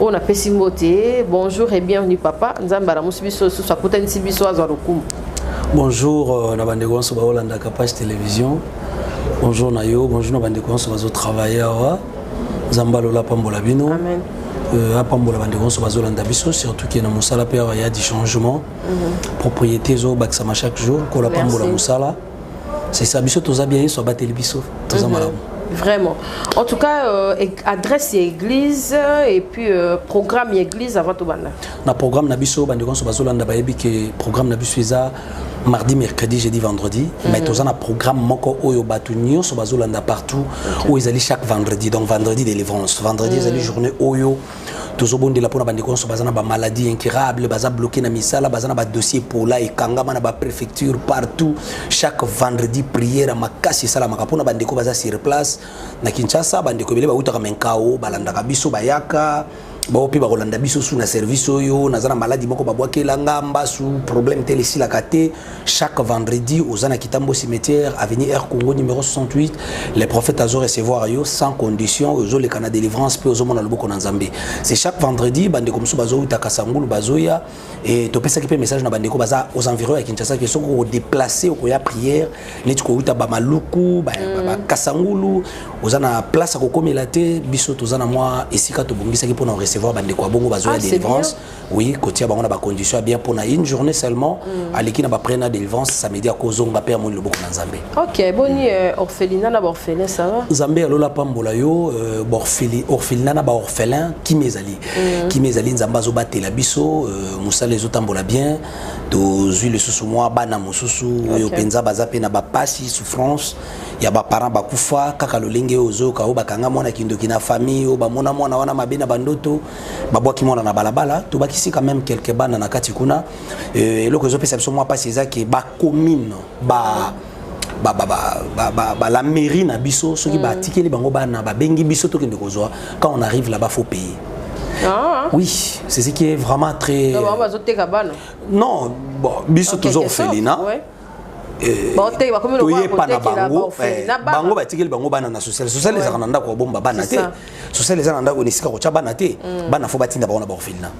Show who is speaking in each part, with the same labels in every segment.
Speaker 1: oyo napesi mbote bonjour et bienvenue papa nzambe alamusi biso lisusu akutanisi biso azwa lokumu bonjour
Speaker 2: euh, na bandeko nyonso baolandaka page télévision bonjour na yo bonjour na bandeko nyonso bazotravaille awa nzambe alola apambola bino Amen. Euh, apambola bandeko nyonso bazolanda biso surtout ke na mosala mpe awa ya du changement mhm. propriété ezobakisama chaque jour kola apambola mosala c'est ça biso toza bien yesu abateli biso toza mhm. malamu Vraiment.
Speaker 1: En tout cas, euh, adresse l'église euh, et puis euh, programme l'église avant tout banda. Na programme na biso bande konso
Speaker 2: bazolanda ba yebi que programme na biso eza mardi, mercredi, jeudi, vendredi. Mm -hmm. Mais tous un programme moko oyo batu nyonso bazolanda partout okay. où ils allaient chaque vendredi. Donc vendredi délivrance, vendredi mm -hmm. ils allaient journée oyo tozobondela mpo na bandeko nyonso baza na bamaladi incurable baza bloke na misala baza na badossier pola ekangama na baprefecture partout chaque vendredi prière makasi esalamaka mpo na bandeko baza sur place na kinshasa bandeko ebele bautaka menkao balandaka biso bayaka bao mpe bakolanda biso su na service oyo naza na maladi moko babwakela nga mbasu problème te elesilaka te Chaque vendredi, aux Zana Kitambo cimetière, avenue Air Congo numéro 68, les prophètes azo recevoir yo sans condition, aux les canadiens délivrance, puis aux mona loboko nanzambe. C'est chaque vendredi, bande comme ça, bazo uta kasangulu, bazoya, et topé ça qui peut message na bande comme ça, aux environs à Kinshasa, qui sont au déplacé, au koya prière, les tu kouta ba maluku, ba, mm. ba kasangulu, aux Zana place à kokomé la té, biso, aux Zana moi, et si kato bongi, ça qui peut recevoir bande comme bongo, bazoya ah, délivrance. oui kotia bango na ba conditions bien pour na une journée seulement mm. aleki na ba prena délivrance samedi akozonga pe amoni loboko na nzambe ok boni euh,
Speaker 1: orphelinat na ba orphelin ça va nzambe ya lola pambola
Speaker 2: yo euh, ba orpheli orphelinat na ba orphelin kimi ezali mm. kimi ezali nzambe azobatela biso euh, mosala ezotambola bien tozwi lisusu mwa bana mosusu oyo okay. mpenza baza mpe na bapasi souffrance ya baparent bakufa kaka lolenge oyo ozoyoka oyo bakanga mwana kindoki na famille oyo bamona mwana wana mabe na bandoto babwaki mwana na balabala tobakisi quand même quelque bana na kati kuna euh, eloko ezopesa biso mwa mpasi eza ke bacommune ba ba, ba, ba, ba, ba, ba la mairie na biso soki mm. batikeli bango bana babengi biso tokende kozwa quand on arrive là-bas faut payer Ah. Oui, c'est ce qui est vraiment très. Non, bon, biso toujours au Felina. Ouais. Eh, toyepa na bango eh, bango batikeli bango bana na sociale sociale ezalaka na ndako babomba bana te sociale eza na ndako na esika kotya bana te mm. bana fo batinda bango na baorphelina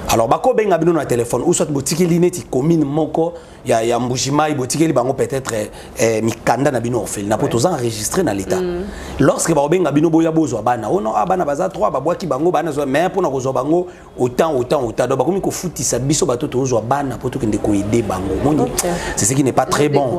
Speaker 2: alors bakobenga bino na telefone ou soit botikeli neti commune moko ya, ya mbujimai botikeli bango peut-être eh, eh mikanda na bino orphelina mpo toza enregistre na l'état mm. lorsque bakobenga bino boya bozwa bana ono oh a ah, bana baza 3 babwaki bango bana zwa mais mpo na kozwa bango autant autant autant donc bakomi kofutisa biso bato tozwa bana mpo tokende koede bango moni okay. c'est ce qui n'est pas très bon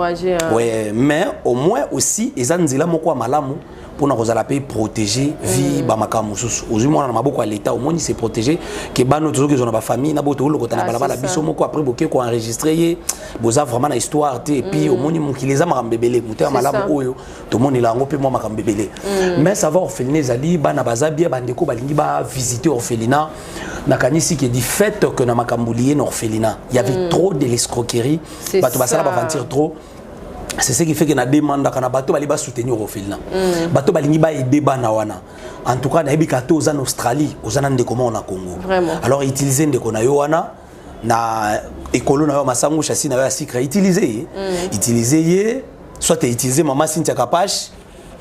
Speaker 2: ouais, mais au moins aussi eza nzela moko ya malamu mpona kozala mpe protégé vie mm. bamakambo mosusu ozwi mwana na maboko ya leta omoni se protégé ke bano tozoki ozwa na bafamille na boyo tokolokota na ah, balabala biso moko après boke koenregistre ye boza vraiment na histoire te epuis mm. omoni mokili eza makambo ebele moto ya malamu oyo tomonela yango mpe mwa makambo ebele mm. mais sava orphelina ezali bana baza bie bandeko balingi bavisite orphelina nakanisi ke du fait que na makambo liye na orphelina y avait mm. trop de l'escroquerie bato basala baventure trop c'est ce qui fait que na demandaka na bato bali basoutenir orphelina mm. bato balingi baede bana wana en tout cas nayebi ka te oza na australie oza na ndeko moko na congo alors utilise ndeko na yo wana na ekolo na yo masango chasi na yo ya sikre utilize ye mm. utilize ye soit utilize mama sintia kapash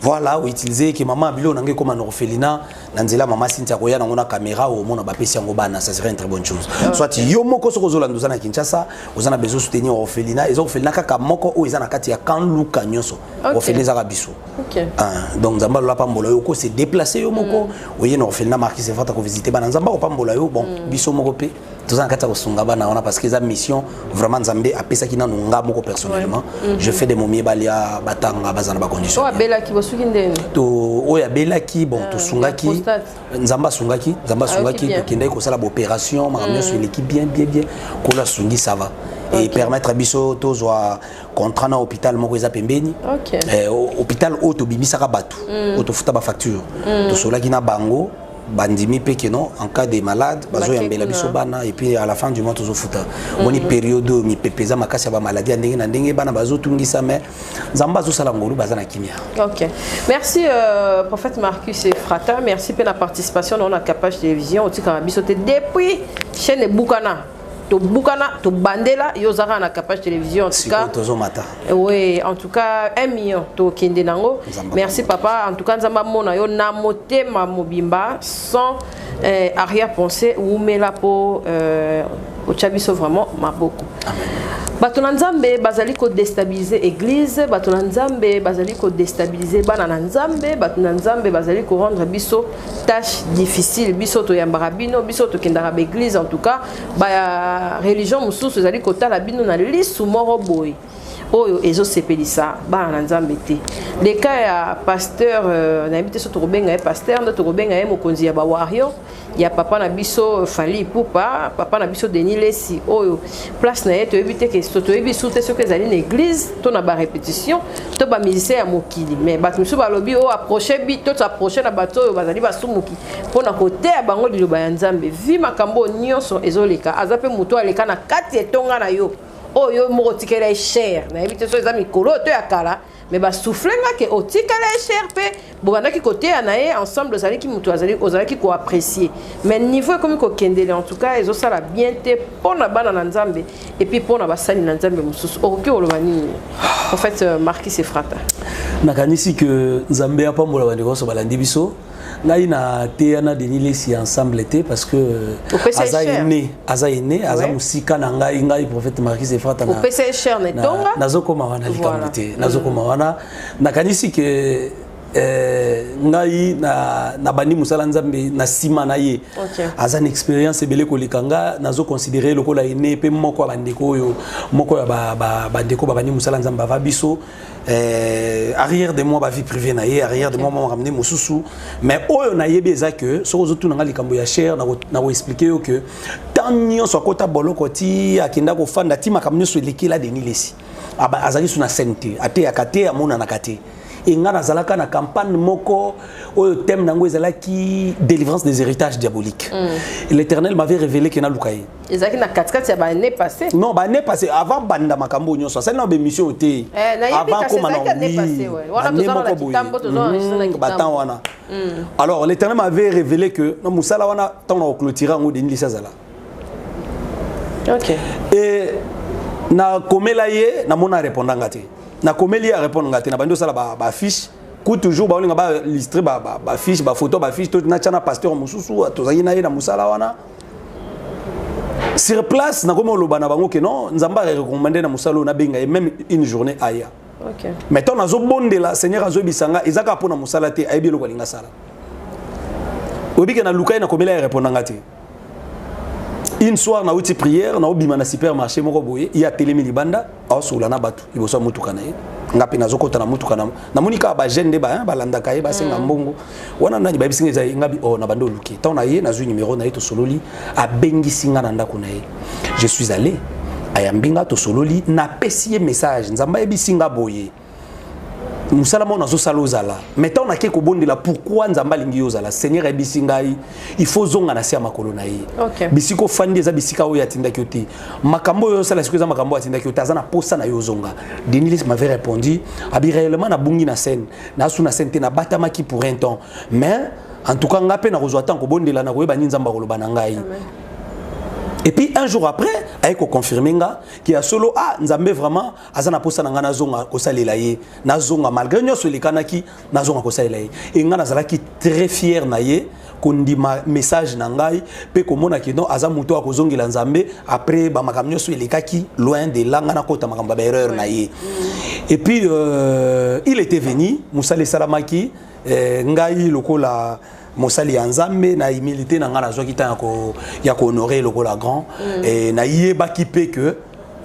Speaker 2: voilà outilize ye ke mama biloko na ngai ekoma na orphelina na nzela mama sintia koya nango na kamera omona bapesi yango bana ça serait une très bonne chose okay. soit yo moko soki ozolanda oza na kinshasa oza na besoin soutenir orphelina eza orphelina kaka moko oyo eza na kati ya kan luka nyonso okay. orphelina ezaka biso Okay. Ah, donc nzambe alola apambola yo okose déplace yo moko mm. oye na orphelina markis efata kovisite bana nzambe akopambola yo bon mm. biso moko mpe toza na kati ya kosunga bana wana parce que eza mission vraiment nzambe apesaki nanu nga moko personnellement ouais. mm -hmm. je fais de momie balia batanga baza na bacondition oyo abelaki bosuki
Speaker 1: ndeni to oyo
Speaker 2: abelaki bon uh, tosungaki nzambe asungaki nzambe ah, asungaki tokendaki kosala baopération makambo mm. nyonso eleki bien bien bien kolo asungi ça va okay. et permettre biso tozwa contrat na hôpital moko eza pembeni okay. eh, hôpital oyo tobimisaka bato mm. oyo tofuta bafacture mm. tosolaki na bango bandimi mpe keno en cas de malade bazoyambela biso bana epuis à la fin du mois tozofuta mm. omoni mm. periode oyo mipepe eza makasi ya bamaladi ya ndenge na ndenge bana bazotungisa mai nzambe azosala ngolu baza na kimia ok merci
Speaker 1: euh, prophète marcus efrata merci mpe na participation na yo na capage télévision otikaka biso te depuis chaîne ebukana tobukana tobandela yo oza kaka na capage télévision en tout cas tozomata oui en tout cas un million tokende nango merci papa en tout cas nzambe amona yo na motema mobimba sans euh, arrière pensée wumela mpo euh, otya biso vraiment maboko bato na nzambe bazali kodestabilize église bato na nzambe bazali kodestabilize bana na nzambe bato na nzambe bazali korendre biso tâche difficile biso toyambaka bino biso tokendaka baeglise en tout cas ba religion mosusu ezali kotala bino na lisu moko boye oyo ezosepelisa bana na nzambe te le cas ya pasteur euh, nayebi te so tokobenga ye pasteur nde tokobenga ye mokonzi ya bawario ya papa na biso fali ipupa papa na biso denis lesi oyo place na ye toyebi te ke so toyebi su te soki ezali na église to na barépétition to bamusicien ya mokili mais bato mosusu balobi o oh, approche bi to toapproche na bato oyo bazali basumuki mpo na koteya bango liloba ya nzambe vi makambo oyo nyonso ezoleka aza mpe moto aleka na kati etonga na yo oyo oh, yo moko otikela ye chere nayebi te so eza mikolo oyo to ya kala mais ba souffle nga ke otikala ye cher mpe bobandaki koteya na ye ensemble ozalaki moto ozalaki koapprécie mais niveau ekomi kokendele en tout cas ezosala bien te mpo na bana na nzambe epuis mpo na basali na nzambe mosusu okoki koloba nini en fait euh, marquis sefrata nakanisi ke
Speaker 2: nzambe apambola bandeko nyonso balandi biso ngai na teya na denis lesi ensemble te parce que euh, aza ene aza ene aza mosika na ngai ngai prophète marquis efrata nazokoma
Speaker 1: wana likambo
Speaker 2: te nazokoma mm. wana nakanisi ke eh, ngai na, na bandi mosala nzambe na nsima na ye okay. aza na expérience ebele koleka nga nazoconsidere lokola ene mpe moko ya bandeko oyo moko ya bandeko ba, ba, ba babandi mosala nzambe bava biso euh, arrière de moi ba vie privée na ye arrière de moi mama ramener mosusu mais oyo nayebi eza que soki ozotuna nga likambo ya cher na koexplike yo que temps nyonso akota boloko ti akenda kofanda ti makambo nyonso elekela deni lesi ah azali su na scène te ateyaka te amonanaka te enga nazalaka na campagne moko oyo thème na yango ezalaki délivrance des héritages diaboliques mm. l'éternel m'avait révélé ke naluka ye ezalaki na katikati ya
Speaker 1: bane passé non bane passé
Speaker 2: avant banda makambo nyonso asali na baémission oyo te eh, avant koma na ane moko boye batemp wana hmm. alors l'éternel m'avait révélé que na mosala wana ntango na koclotira yango denilisi azala okay. et nakomela ye namona arépondre nga te nakomeli ye arépondre nga te na bandi osala baaffiche ba ku toujours baolinga balistre bafiche bafoto bafiche to natya na pasteur mosusu tozalaki na ye na mosala wana sur place nakomi oloba na bango ke non nzambe arecommande na mosala oyo nabenga ye même une journée aya okay. mais ntango nazobondela seigneur azoyebisa nga eza kaka mpo na mosala te ayebi eloko alingi asala oyebi ke naluka ye nakomela ye reponda nga te une soir nauti prière naobima na supermarché moko boye ye atelemi libanda aosukula na bato liboso ya motuka na ye nga mpe nazokota na motuka namoni kaka bajeune nde balandaka ye basenga mm. mbongo wana nani bayebisi nga eza ye nga bi o oh, na bande oluki ntango na ye nazwi numero na ye tosololi abengisi nga na ndako na ye je suis allé ayambi nga tosololi napesi ye message nzambe ayebisi nga boye mosala moko nazosala ozala mai ntango nake kobondela pourkui nzambe alingi yo ozala seigneur ayebisi ngai il faut ozonga na se ya makolo na ye okay. bisika ofandi eza bisika oyo atindaki yo te makambo oyo osala sikoyo eza makambo oyo atindaki yo te aza na mposa na yo ozonga denilis m'avait répondu abi réellement nabungi na scène nasu na scène te nabatamaki pour un temps mais en tout cas ngai mpe nakozwa ntango kobondela nakoyeba nini nzambe akoloba na ngai et puis un jour après aye koconfirme nga ke ya solo ah nzambe vraiment aza na posa na ngai nazonga kosalela ye nazonga malgré nyonso elekanaki nazonga kosalela ye e ngai nazalaki très fier na ye kondima message na ngai mpe komona kino aza moto oyo akozongela nzambe après bamakambo nyonso elekaki loin de la ngai nakota makambo ya baerreur na ye mm. et puis euh, il était venu mosala esalamaki eh, ngai lokola mosali ya nzambe na humilité na ngai nazwaki ntango ya kohonore lokola grand mm. e, nayebaki mpe ke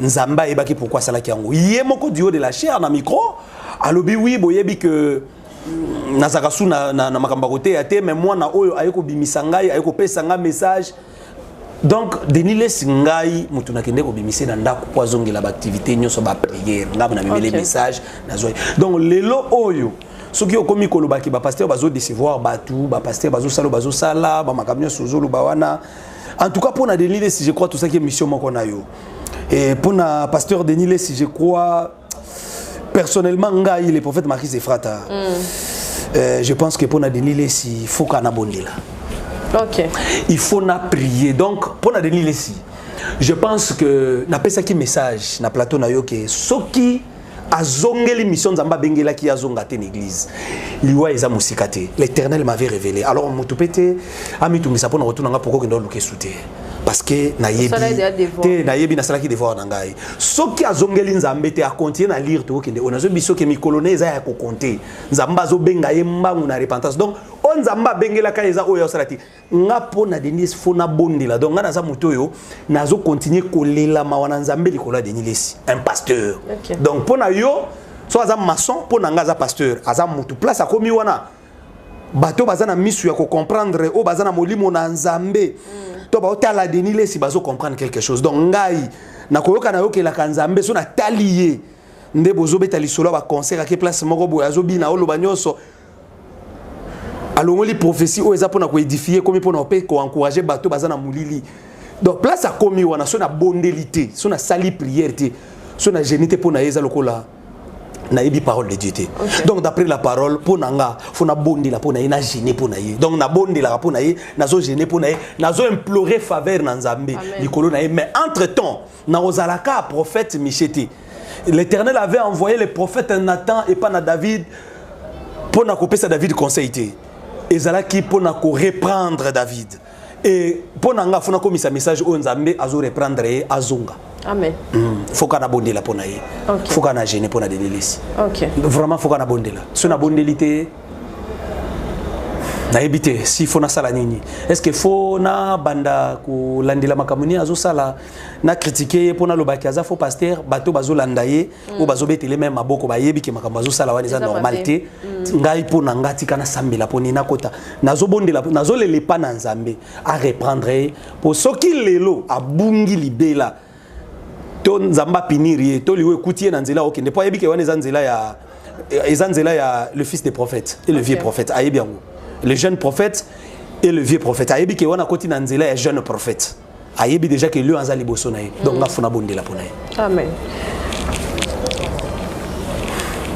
Speaker 2: nzambe ayebaki pourkui asalaki yango ye moko duo de la chair na micro alobi wi boyebi ke mm, nazalaka su na, na, na makambo ya koteya te me mwana oyo aye kobimisa ngai aye kopesa ngai message donc denis lesi ngai moto nakende kobimise na ndako mpo azongela baaktivité nyonso bapriere ngai mona memele okay. message nazwai donc lelo oyo soki okomi kolobaki bapaster bazodecevoir bato bapaster bazosala bazosala bamakambo nyonso ozoloba wana en tout cas mpo na denis lesi je crois tosaki émission moko na yo mpo na pasteur denis lesi je crois personnellement ngai le prophète marquis efrata mm. euh, je pense que mpo na denis lesi foka na bondela okay.
Speaker 1: il faut na
Speaker 2: prier donc mpo na denis lesi je pense que napesaki message na plateau na yo ke soki azongeli mission nzambe abengelaki ye azonga te na église liwa eza mosika te l'éternel m'avait révélé alors moto mpe te amitungisa mpo na kotuna nga poko okenda oluka esu te parce que nayebi te nayebi nasalaki devoir na ngai soki azongeli nzambe te akontinue na lire tokokende oyo nazoyebi soki mikolo na eza ya kokonte nzambe azobenga ye mbangu na repentance donc oyo nzambe abengelaka eza oyo asala te nga mpo na denis fo nabondela donc nga naza moto oyo nazokontinue kolela mawa na nzambe likolo ya denis lesi un pasteur okay. donc mpo na yo so aza maçon mpo na nga aza pasteur aza motu place akomi wana bato baza na misu ya kocomprendre oyo baza na molimo na nzambe mm. to baotala deni lesi bazocomprendre quelque chose donc ngai nakoyoka nayokelaka nzambe so natali ye nde bozobeta lisolo ya baconcert ake place moko boye azobina oloba nyonso alongoli prophétie oyo eza mpona koedifie ekomi mpona mpe koencourage bato baza na molili donc place akomi wana so nabondeli te so nasali prière te so na geni te mpo na ye eza lokola nayebi parole de dieu te okay. donc d'après la parole mpo na nga fo nabondela mpo na ye na gene mpo na ye donc nabondelaka mpo na ye nazo gene mpo na ye nazo implore faveur na nzambe likolo na ye mais entre temps nakozalaka prophète miche te l'éternel avait envoyé le prophète nathan epa na david mpo na kopesa david conseil te ezalaki mpo na koreprendre david et mpo na nga fona komisa message oyo nzambe azo reprendre ye azonga amen mm. foka na bondela mpo na ye okay. foka na gene mpo na denelisi okay. vraiment foka na bondela so na bondeli te nayebi te si fo nasala nini est ce que fo nabanda kolandela makambo nini azosala na kritike ye mpo nalobaki aza fo paster bato bazolanda ye oyo bazobetele meme maboko bayebi ke makambo azosala wana eza normal te mm. ngai mpo na ngai tika nasambela mpo nini nakota nazobondela nazolela epa na nzambe areprendre ye mpo soki lelo abungi libela to nzambe apinir ye to liwa ekuti ye na nzela okende mpo ayebi ke wana eza nzela ya eza nzela ya le fils des prophètes et le vieux prophète ayebi yango le jeune prophète et le vieux prophète ayebi ke wana akoti na nzela ya jeune prophète ayebi déjà que lion aza liboso na ye donc mm. nga funa bondela pona ye amen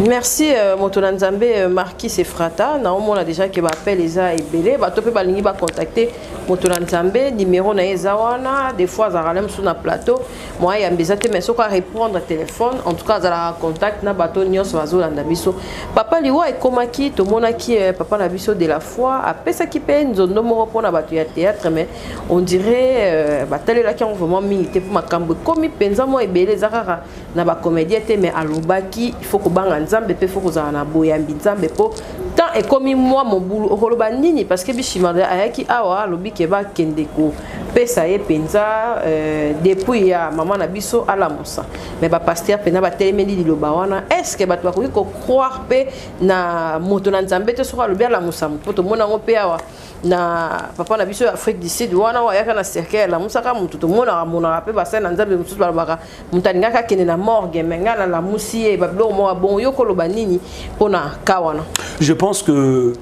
Speaker 1: merci euh, moto na nzambe euh, marquis efrata naomona déjà ke baapele eza ebele bato mpe balingi bacontacte moto na nzambe nimero na ye eza wana des fois azalaka na mosusu na plateau moyen yambe eza te mais soki arépondre téléphone en tout cas azalaka contact na bato nyonso bazolanda biso papa liwa ekomaki tomonaki euh, papa na biso de la foi apesaki mpe nzondo moko mpona bato ya théâtre mais on dirait euh, batalelaki yango vraiment mingi te mpo makambo ekomi mpenza mwa ebele eza kaka na bacomédien te mais alobaki ifo kobanga nzambe mpe fo kozala na boyambi nzambe mpo temps ekomi mwa mobulu okoloba nini parce que bishimande ayaki awa alobi ke bakende kopesa ye mpenza euh, depuis ya mama na biso alamusa mais bapaster mpenza batelemeli liloba wana est ce que bato bakoki kocroire mpe na moto na nzambe te soki alobi alamusa mpo tomona yango mpe awa na papa na biso ya afrique du sud wana oyo ayaka na cercueil alamusaka motu tomonaka monaka mpe basali na nzambe mosusu balobaka moto alingaka akende na morgue me ngai nalamusi ye babiloko moko ya bongo yo koloba nini mpo na ka wana je pense que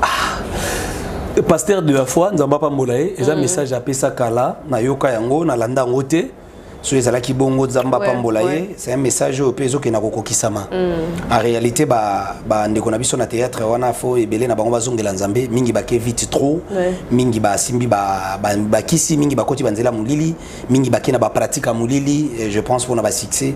Speaker 2: ah, pasteur de la foi nzambe apambola ye eza mm. message apesa kala nayoka yango nalanda yango te soki ezalaki bongo nzambe apambola ye c'est un message oyo mpe ezokenda kokokisama mm. en réalité bandeko na biso na théâtre wana fo ebele na bango bazongela nzambe mingi bake vite trop mingi basimbi bakisi mingi bakoti banzela molili mingi bake na bapratique ya molili je pense mpona basuccès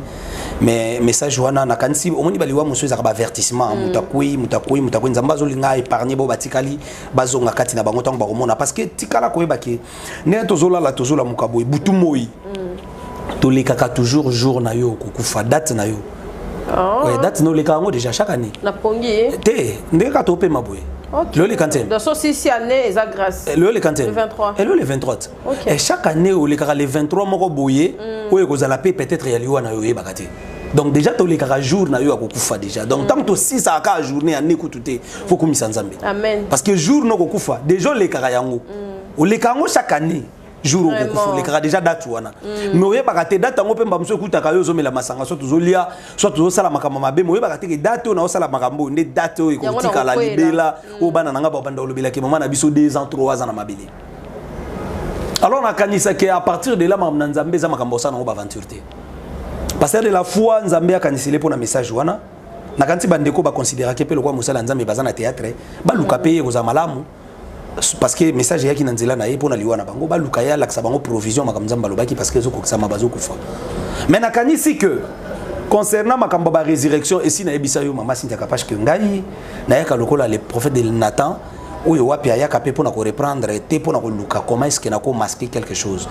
Speaker 2: mais message wana nakanisi omoni baliwa mosusu ezalaka baavertissement mm. moto akwei moto akwei moto akwei nzambe azolinga épargne bo batikali bazonga kati na bango ntango bakomona parce que tikala koyebake ndenge tozolala tozolamuka boye butu moi mm. tolekaka toujours jour na yo okokufa date na yo oh. ouais, date na olekaka yango
Speaker 1: déjà
Speaker 2: chaque année napongi te ndenge kaka topema boye Okay.
Speaker 1: Leo le 15e. Donc so
Speaker 2: si si année
Speaker 1: eza grâce. Eh, Leo le 15e. Le 23. Et
Speaker 2: eh, Leo le
Speaker 1: 23. Okay.
Speaker 2: Et chaque
Speaker 1: année
Speaker 2: au le 23 moko boye, mm. oyo kozala pe peut-être ya liwa na yo yebaka te. donc déjà tolekaka jour na yo akokufa déjà donc ntango tosisaka kaka journée ya nekutu te fo kumisa nzambe parce que jour
Speaker 1: na okokufa
Speaker 2: déjà olekaka yango mm. oleka yango chaque année jour okokufa olekaka déjà date wana mm. mais oyebaka te date yango mpe mba mosusu ekutaka yo ozomela masanga soit tozolia soit tozosala makambo mabe mais oyebaka te ke date oyo naosala makambo oyo nde date oyo ekotikala libela mm. oyo bana na ngai babanda kolobelaki mama na biso 2 ans 3 ans na mabele alors nakanisaki à partir de là makambo na nzambe eza makambo osala nango baaventure te parce que de la foi nzambe akanisele mpo na message wana nakanisi bandeko baconsideraki mpe lokola mosala ya nzambe baza na théâtre baluka mpe ye ekozala malamu parce que message eyaki na nzela na ye mpo na liwa na bango baluka ye alakisa bango provision makambo nzambe alobaki parce que ezokokisama bazokufa mais nakanisi que concernant makambo ba résurrection esi nayebisa yo mama sintia kapache que ngai nayaka lokola le prophète de nathan oyo wapi ayaka mpe mpo na koreprendre te mpo na koluka comment est ce que nako masque quelque chose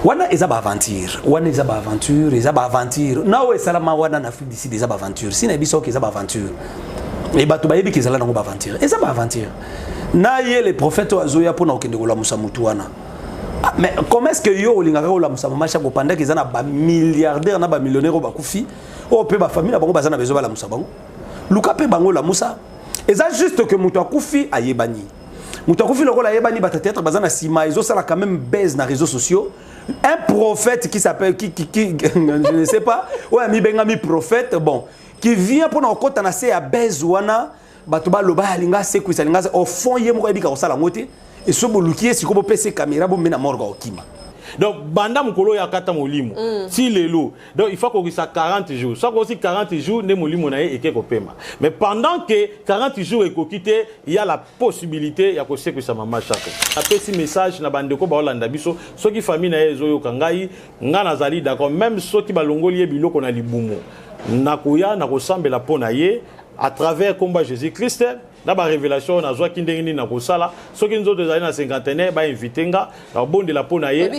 Speaker 2: wana eza baaventure wana eza baaventure eza baaventure na oyo esalama wana na afrique du sud eza baaventure si nayebi soki eza baaventure e bato bayebi ke ezala nango baaventure eza baaventure na ye le prophète oyo azoya mpo na kokende kolamusa motu wana ah, mais comment est ce que yo olingaka kolamusa mama shako pendant eza na bamilliardaire na bamillionnaire oyo bakufi oyo oh, mpe bafamille na bango baza na bezo balamusa bango luka mpe bango olamusa eza juste que moto akufi ayebani moto akufi lokola ayebani bata théâtre baza na nsima ezosala quand même baise na réseaux sociaux un prophète qui s'appelle qui, qui, qui, je ne sais pas oyo amibengami prophète bon qui vient pona kokota na se ya base wana bato baloba alinga asekwisa alinga au fond ye moko ayebika kosala yango te eso boluki ye sikoyo bopesa ye kamera bombe na morga okima donc banda
Speaker 3: mokolo ya kata molimo mm. ti lelo donc il faut kokisa 40 jours soki okosi 40 jours nde molimo na ye eke kopema mais pendant que 40 jours ekoki te ya la possibilité ya kosekwisa mama shako apesi message na bandeko baolanda biso soki famille na ye ezoyoka ngai Nga nazali d'accord meme soki balongoli ye biloko na libumu nakoya nakosambela mpo na ye à travers komba Jésus Christ na ba révélation oyo nazwaki ndenge nini nakosala soki nzoto ezali na cinquantenaire bainvite nga nakobondela mpo na ye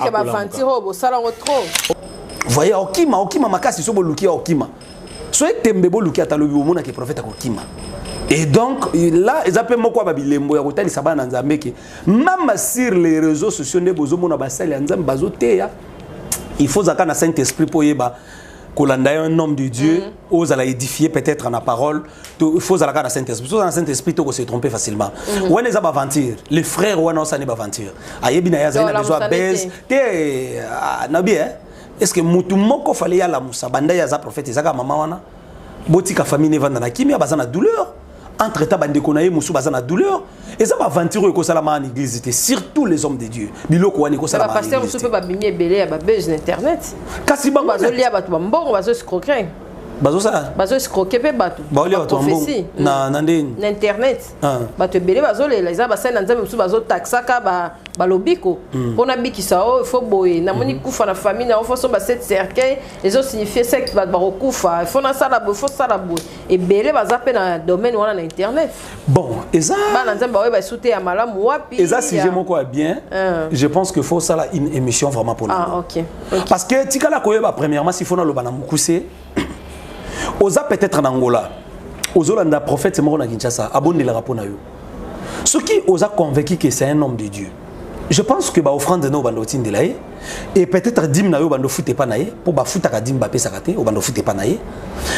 Speaker 1: voye
Speaker 2: okima okima makasi so boluki okima so etembe boluki ata lobi bomonaki prophète akokima et donc là eza mpe moko ya babilembo ya kotalisa bana na nzambe ke mama sur les réseaux sociaux nde bozomona basali ya nzambe bazoteya il faut ozalaka na saint esprit mpo oyeba kolanda ye un homme de dieu mm. ozala édifie peut-être na parole il faut ozalaka na saint esprit soza na saint esprit toko se tromper facilement mm. wana eza baventure le frère wana osani baventure ayebi na ye azali na besoin base te ah, nabi e est ce que motu moko fale yalamusa banda ye aza prophète ezaka mama wana botika famille nevanda na kimia baza na douleur entre temps bandeko na ye mosusu baza na douleur eza baaventure oyo ekosalama na église te surtout les hommes de dieu biloko wana ekosalabapaster mosusu mpe babimi
Speaker 1: ebele ya babuse na internet kasi bango bazolia bato bambongo bazoscroquer bazosala bazoscroke mpe bato baolia bato prophesie na na ndeni
Speaker 2: na internet ah.
Speaker 1: bato ebele bazolela eza basali na nzambe mosusu bazotaxaka balobiko hmm. mpo nabikisa o oh, ifo boye namoni hmm. kufa na famille na yo foso basete cercueil ezosignifie secte bato bakokufa ifo nasala boye ifo sala boye ebele baza mpe na domaine wana na internet bon eza
Speaker 2: bana nzambe baoyeba esu
Speaker 1: te ya malamu wapi eza sujet moko ya
Speaker 2: bien uh. je pense que faut sala une émission vraiment pour ah, okay. okay. parce
Speaker 1: que tikala
Speaker 2: koyeba premièrement s'il faut naloba na mokuse oza peut-être na ngola ozolanda prophète moko na kinshasa abondelaka mpo na yo soki oza convaincu que c'est un homme de dieu je pense que baofrande na obanda otindela ye et peut-être dime na yo bando fute pa na ye po ba futaka dime ba pesaka te o bando fute pa na ye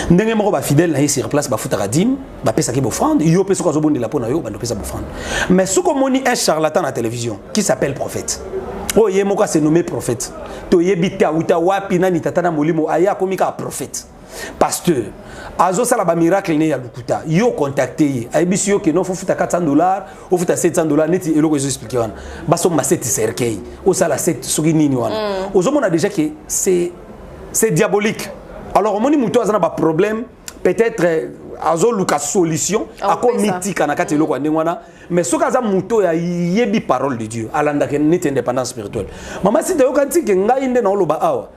Speaker 2: ndenge moko ba fidèle na ye sur place ba futaka dime ba pesaki bofrande yo pe soko azobondela po na yo bando pesa bofrande mais soko moni un charlatan na télévision qui s'appelle prophète oyo ye moko ase nommé prophète toyebi te awuta wapi nani tata na molimo aye akomi kaka prophète pasteur azosala bamiracle ne ya lokuta yo contacte ye ayebisi yo keno fofuta 400 dollar ofuta 700 dollar neti eloko ezo explike wana basomba 7 cercueil osala 7 soki nini wana mm. ozomona déjà ke c'est diabolique alors omoni moto aza na baproblème peut-être euh, azoluka solution akomitika na kati eloko ya ndenge wana mais soki aza moto oyo ayebi parole de dieu alandaka neti indépendance spirituelle mama sita yoka ntike ngai nde naoloba awa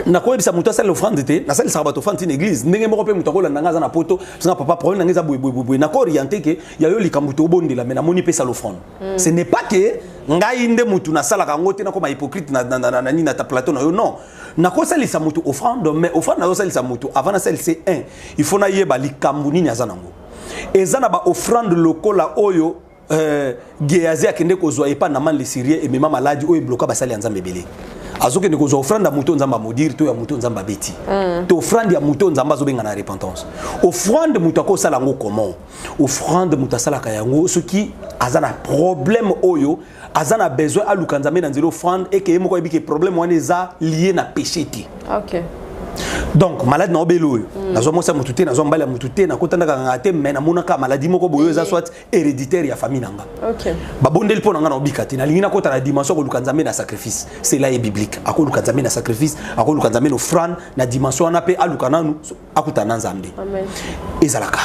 Speaker 2: nakoyebisa moto asala offrande te nasalisaka bato offrande ti na église ndenge moko mpe moto akolanda ngai aza na poto sanga papa problème na ngai eza boyeboyeboye nakooriente ke ya yo likambo tobondela me namoni mpe sala offrande hmm. ce n'est pas ke ngai nde motu nasalaka yango te nakoma hypocrite na nini na ta plateau na yo non nakosalisa motu offrande mais offrande nazosalisa motu avant nasalisa un il faut nayeba likambo nini aza nango eza na baoffrande lokola oyo euh, geazi akende kozwa epa naman le syrie emema maladi oyo ebloka basali ya nzambe ebele azokende kozwa ofrande ya moto oyo nzambe amodire to ya moto oyo nzambe abeti mm. to ofrande ya moto oyo nzambe azobenga na repentance ofrande moto akosala yango comment ofrande moto asalaka yango soki aza na problème oyo aza na besoin aluka nzambe na nzela ofrande eke ye moko ayebi ke problème wana eza lie na péché te okay.
Speaker 1: donc
Speaker 2: maladi na obele oyo mm. nazwa mwasi ya motu te nazwa mbali ya motu te nakotandaka nganga te mai namonaka maladi moko boye eza soit héréditaire ya famille nanga okay. babondeli
Speaker 1: mpo na ngai
Speaker 2: naobika te nalingi nakota na dimension akoluka nzambe na sacrifice cela est biblique akoluka nzambe na sacrifice akoluka nzambe na offrande na dimension wana mpe aluka nanu akutana na nzambe
Speaker 1: ezalaka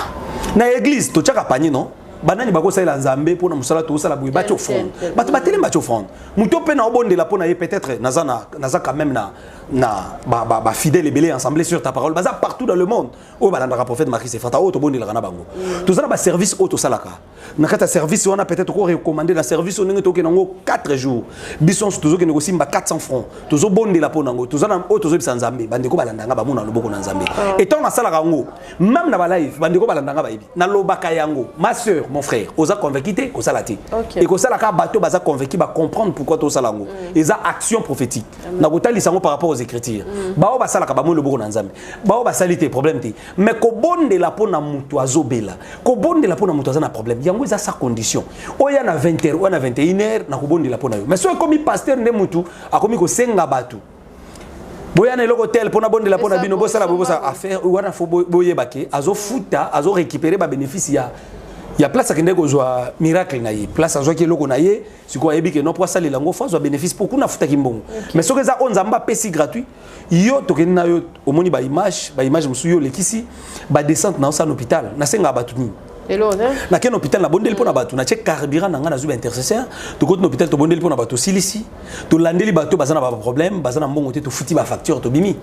Speaker 2: na église totyaka panie non banani bakosalela nzambe mpo na mosala tokosala boye batya offrande bato batelemi batya offrande moto mpe naobondela mpo na ye peut-être naza quand même na, na bafidèle ba, ba ebele ensemble sur ta parole baza partout dans le monde oyo balandaka prophète Marie Sefata oyo tobondelaka na bango toza na ba service oyo tosalaka na kati ya service wana peut-être ko recommander na service oyo ndenge tokende yango 4 jours biso nso tozokende kosimba 400 francs tozobondela mpo na yango toza na oyo tozobisa nzambe bandeko balandanga bamona loboko na nzambe ah. etant nasalaka yango meme na balive bandeko balandanga bayebi nalobaka yango ma soeur mon frère oza convaincu te kosala te ekosala kaka bato baza convaincu bacomprendre pourquoi tosala yango mm. eza action prophétique nakotalisa yango par rapport aux écritures mm. baoyo basalaka bamoni loboko na nzambe baoyo basali te problème te mais kobondela mpo na moto azobela kobondela mpo na moto aza na problème yango eza sa condition oya na 20 heure oya na 21 heure na kobondela mpo na yo mais soki ekomi pasteur nde motu akomi kosenga bato boya na eloko tel mpo nabondela mpo na bino bosala bosala affaire wana fo boyeba ke azofuta azorécupere babénéfice ya ya place akendeki kozwa miracle na ye place azwaki eloko na ye sikoyo ayebi ke no mpo asalela yango fo azwa bénéfice mpo kuna afutaki mbongo mais soki eza oyo nzambe apesi gratuit yo tokende na yo omoni ba image ba image mosusu yo olekisi ba descente na osana hôpital nasenga bato nini nakei
Speaker 1: na hôpital nabondeli mpo
Speaker 2: na bato natye carburant na ngai nazwi baintercesseur tokoti na hôpital tobondeli mpo na bato osilisi tolandeli bato baza na baproblème baza na mbongo te tofuti bafacture tobimi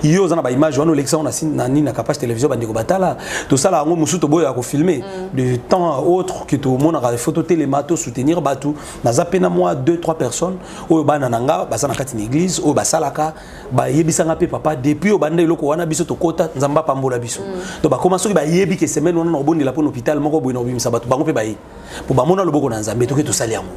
Speaker 2: yo oza na baimage wana olekisa yango na nini na capage télévision bandeko batala tosala yango mosusu toboyaka kofilme mm. de temps à autre ke tomonaka foto telema tosoutenir bato naza mpe na mwa 2 3 personnes oyo bana na nga baza na kati na eglise oyo basalaka bayebisa nga mpe papa depuis oyo banda eloko wana biso tokota nzambe apambola biso mm. to bakoma soki bayebi ke semaine wana na kobondela mpo na hôpital moko boye na kobimisa bato bango mpe baye mpo bamona loboko na nzambe toke tosali yango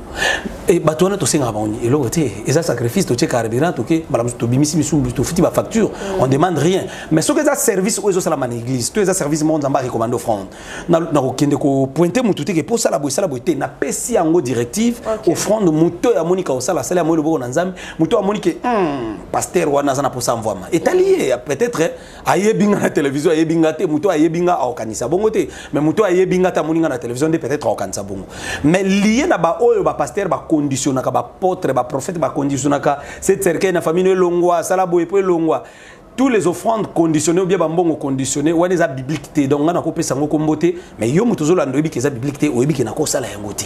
Speaker 2: e, bato wana tosengaka bango eloko te eza sacrifice totie carburant toke mbala mosusu tobimisi misusu tofuti bafacture mm. on demande rien mais soki eza service oyo ezosalama na église to eza service moko nzambe arecommande offrande na na kokende ko pointe mutu te ke po sala boye sala boye te na pesi yango directive okay. offrande moto ya moni ka osala sala yango loboko na nzambe moto amoni ke hmm, pasteur wana aza na posa mvwama etali ye peut-être ayebi nga na télévision ayebi nga te moto ayebi nga aokanisa bongo te mais moto ayebi nga te amoni nga na télévision nde peut-être aokanisa bongo mais liye na baoyo bapasteur baconditionnaka bapotre baprophète baconditionnaka se cercueil na famille elongwa sala boye po elongwa tous les offrandes conditionnées ou bien bambongo conditionné wana eza biblique te donc nga nakopesa yango kombo te mais yo moto ozolanda oyebi ke eza biblique te oyebi ke nakosala yango te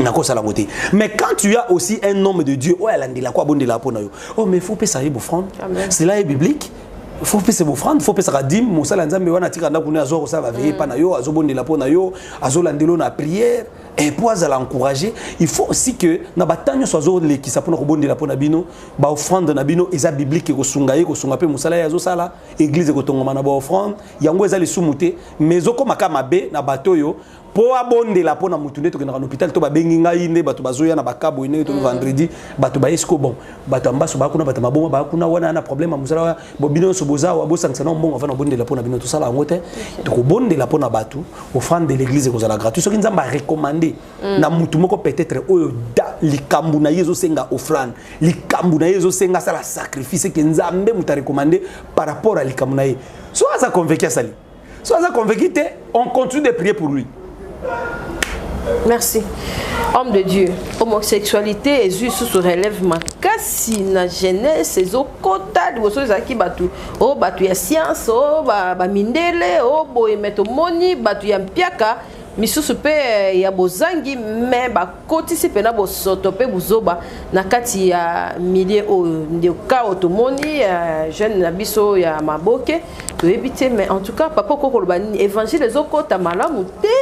Speaker 2: nakosala yango te mais quand tu as aussi un homme de dieu oyo alandelaka abondelaka mpo na yo oh mais faut pesa ye bofrande cela est biblique faut pesa bofrande faut pesaka dime mosala ya nzambe wana atika ndako ne azwa kosala baveye epa mm. na yo azobondela mpo na yo azolandela yo na prière et mpo azala encourage il faut aussi que na batango nyonso azolekisa mpo na kobondela mpo na bino ba offrande na bino eza biblique ekosunga ye kosunga mpe mosala ye azosala eglize ekotongama na ba offrande yango eza lisumu te mais ezokoma ka mabe na bato oyo mpo abondela mpo na motu nde tokendaka na hôpital to babengi ngai nde bato bazoya na bakabo ndenge to mm. vendredi bato baye siko bon bato ya mbaso baya kuna bato ya maboma baya kuna wana na problème ya mosala bino nyonso boza awa bosangisa na mbongo afana obondela mpo na bino tosala yango te tokobondela mpo na bato offrande de l'église ekozala gratuit soki nzambe arecommande mm. na mutu moko peut-être oyo da likambu na ye ezosenga offrande likambu na ye ezosenga asala sacrifice eke nzambe moto arecommande par rapport ya likambu na ye so aza convaincu asali so aza convaincu te on continue de prier pour lui merci
Speaker 1: homme de dieu homosexualité ezwi susu relève makasi na jeunesse ezokota liboso ezalaki bato o oh, bato ya science o oh, bamindele o oh, boye me tomoni bato ya mpiaka misusu mpe eh, ya bozangi me bakotisi mpena bosoto mpe buzoba na kati ya milie oyo nde kao tomoni ya eh, jeune na biso ya maboke toyebi te mais en tout cas papa okoki koloba nini évangile ezokota malamu te